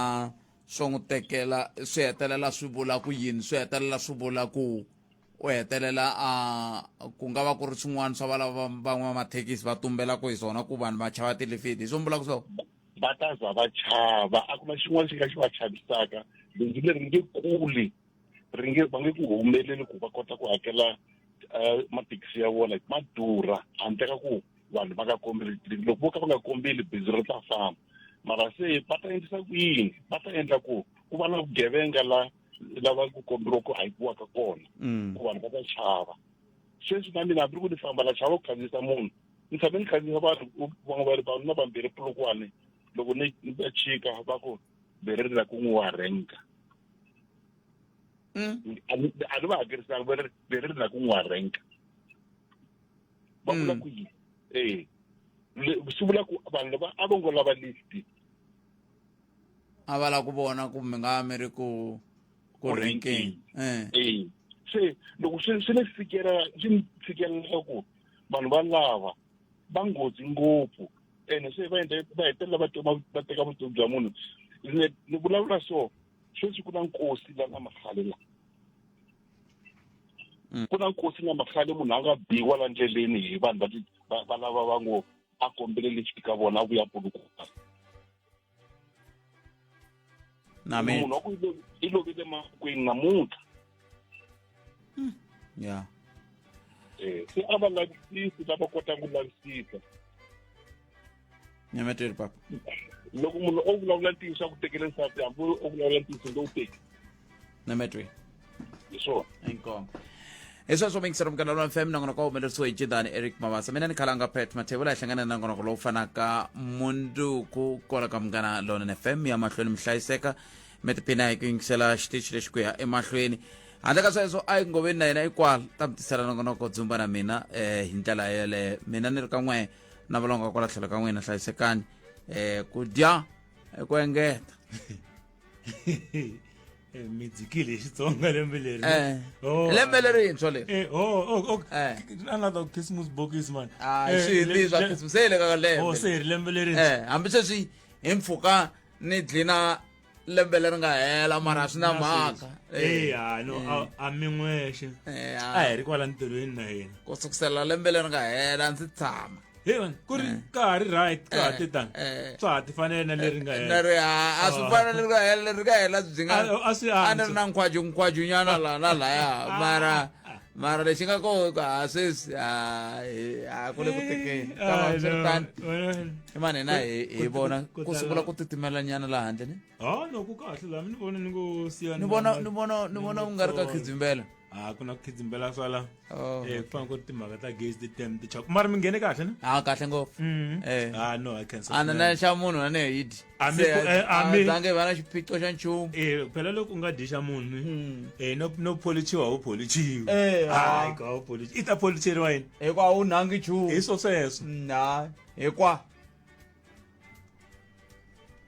[SPEAKER 1] swo n'wi tekela swi hetelela swi vula ku yini swi hetelela swi vula ku u hetelela a ku nga va ku ri swin'wana swa valava van'wamathekisi va tumbelaka hi swona ku vanhu va chava tilifiti hi swo mi vulaka swona va ta za va
[SPEAKER 15] chava a ku na xin'wana xi nga xi va chavisaka bindzu leri nge kuli ri nge va nge ku humeleli ku va kota ku hakela um mathekisi ya vona ma durha handle ka ku vanhu va nga kombeli tliliniki loko vo ka va nga kombeli bindzu ri ta famba mara se va ta endlisa ku yini va ta endla ku ku va na vugevenga la lava ku komberiwa ku hakiwaka kona ku vanhu va ta chava sweswi na mina hambi ri ku ni famba la chava ku khandziyisa munhu ni tshame ni khandziyisa vanhu van'we va ri vanhu na vambirhi pulukwane loko ni ni ta chika va ku bere ri la ku n'wi wa renka Mm. a ni a ni va hakerisanga va ri bere ri la ku n'wi wa renka va vula Mm. ku yini ee Le- swi vula ku vanhu lava a va ngo lava listi
[SPEAKER 1] a va la ku vona ku mi nga mi ri ku ku Ku renkeni renkeni.
[SPEAKER 15] um ee se loko swi swi ni fikela swi ni fikelela ku vanhu valava va nghozi ngopfu ene se va endle va hetelela va teka va teka vutomi bya munhu ni ni vulavula so sweswi ku na nkosi la nga makhale la Mm. ku na nkosi nga makhale munhu a nga biwa la ndleleni hi vanhu va ti- va- va lava va ngo a kombele lexi ka vona a vuya pulukuka Amen. munhu wa ku i lo- i lovile makwini namuntlha
[SPEAKER 1] Yeah.
[SPEAKER 15] Eh, se a va lavisisi lava kotaka ku lavisisa
[SPEAKER 1] Nyameteri papa. loko munhu
[SPEAKER 15] o vulavula ntiyiso a ku tekele nsati hambi o vulavula ntiyiso lowu teki na metri hi swona inkomo
[SPEAKER 1] hi sweswo mingisera mukana lwa mfm nangona kwa humelerisiwe hi jidani eric mabasa mina ni khalanga pet mathevula hi hlangane na ngonoko lowu fanaka munduku kona ka munghana lonene fm ya mahlweni mi hlayiseka mi tiphina hi ku yingisela xitichi lexi ku ya emahlweni handle ka sweswo a yi ngoveni na yena ikwala ta mi tisela nongonoko dzumba na mina um hi ndlela yeleyo mina ni ri ka n'we na valonga kwala tlhelo ka n'wina hlayisekani um ku dya ku engeta
[SPEAKER 16] Eh, midzikile hi xitsonga lembe leri Eh. Oh, lembe
[SPEAKER 1] lerintshwa leri eh, oh, oh, oh, Eh.
[SPEAKER 16] another christmas bokisi man Ah, Eh, swi le- leswa le-
[SPEAKER 1] Christmas, se hi le ka oh, lembe se hi ri lembe leri eh
[SPEAKER 16] hambi sweswi
[SPEAKER 1] hi mpfuka ni dlina lembe leri nga hela mara swi na mhaka Eh, ah, no, a-
[SPEAKER 16] a mi n'wexe Eh, a ah, hi ri kwala ntirhweni na yena ku sukusela lembe
[SPEAKER 1] leri nga hela ndzi tshama hina ku ri eh.
[SPEAKER 16] ka ha ri right ka ha eh, ti tani eh. swa ha ti fanele na leri nga hela leri a a swi ah. fana leri nga
[SPEAKER 1] hela leri nga hela byi nga a swi a ni ri na nkhwaju nkhwaju nyana la na laya ah. mara mara lexi nga ko ha sweswi a a ku le ku tekeni ka va swi ri tani i mani na hi hi vona ku sungula ku titimela nyana laha handle ni ha no ku kahle laha
[SPEAKER 16] mi ni vona ni ngo siyana ni vona ni vona
[SPEAKER 1] ni vona ku nga ri ka khidzimbela a ah, ku na ku khidzimbela
[SPEAKER 16] swala oh, eh kufana ku timhaka ta gaze ti tem ti chaka mara mi nghene kahle na ah kahle ngopfu mm-hmm.
[SPEAKER 1] eh ah no i
[SPEAKER 16] can say ana na xa munhu na ne
[SPEAKER 1] yidi ami eh, ami zange vana xiphiqo xa nchumu eh phela loko unga
[SPEAKER 16] disha munhu mm. eh no no polichiwa ho polichiwa eh hayi ah. ka ho
[SPEAKER 1] polichi ita
[SPEAKER 16] policheriwa yini
[SPEAKER 1] eh kwa
[SPEAKER 16] u nangi
[SPEAKER 1] chu iso
[SPEAKER 16] seso na eh kwa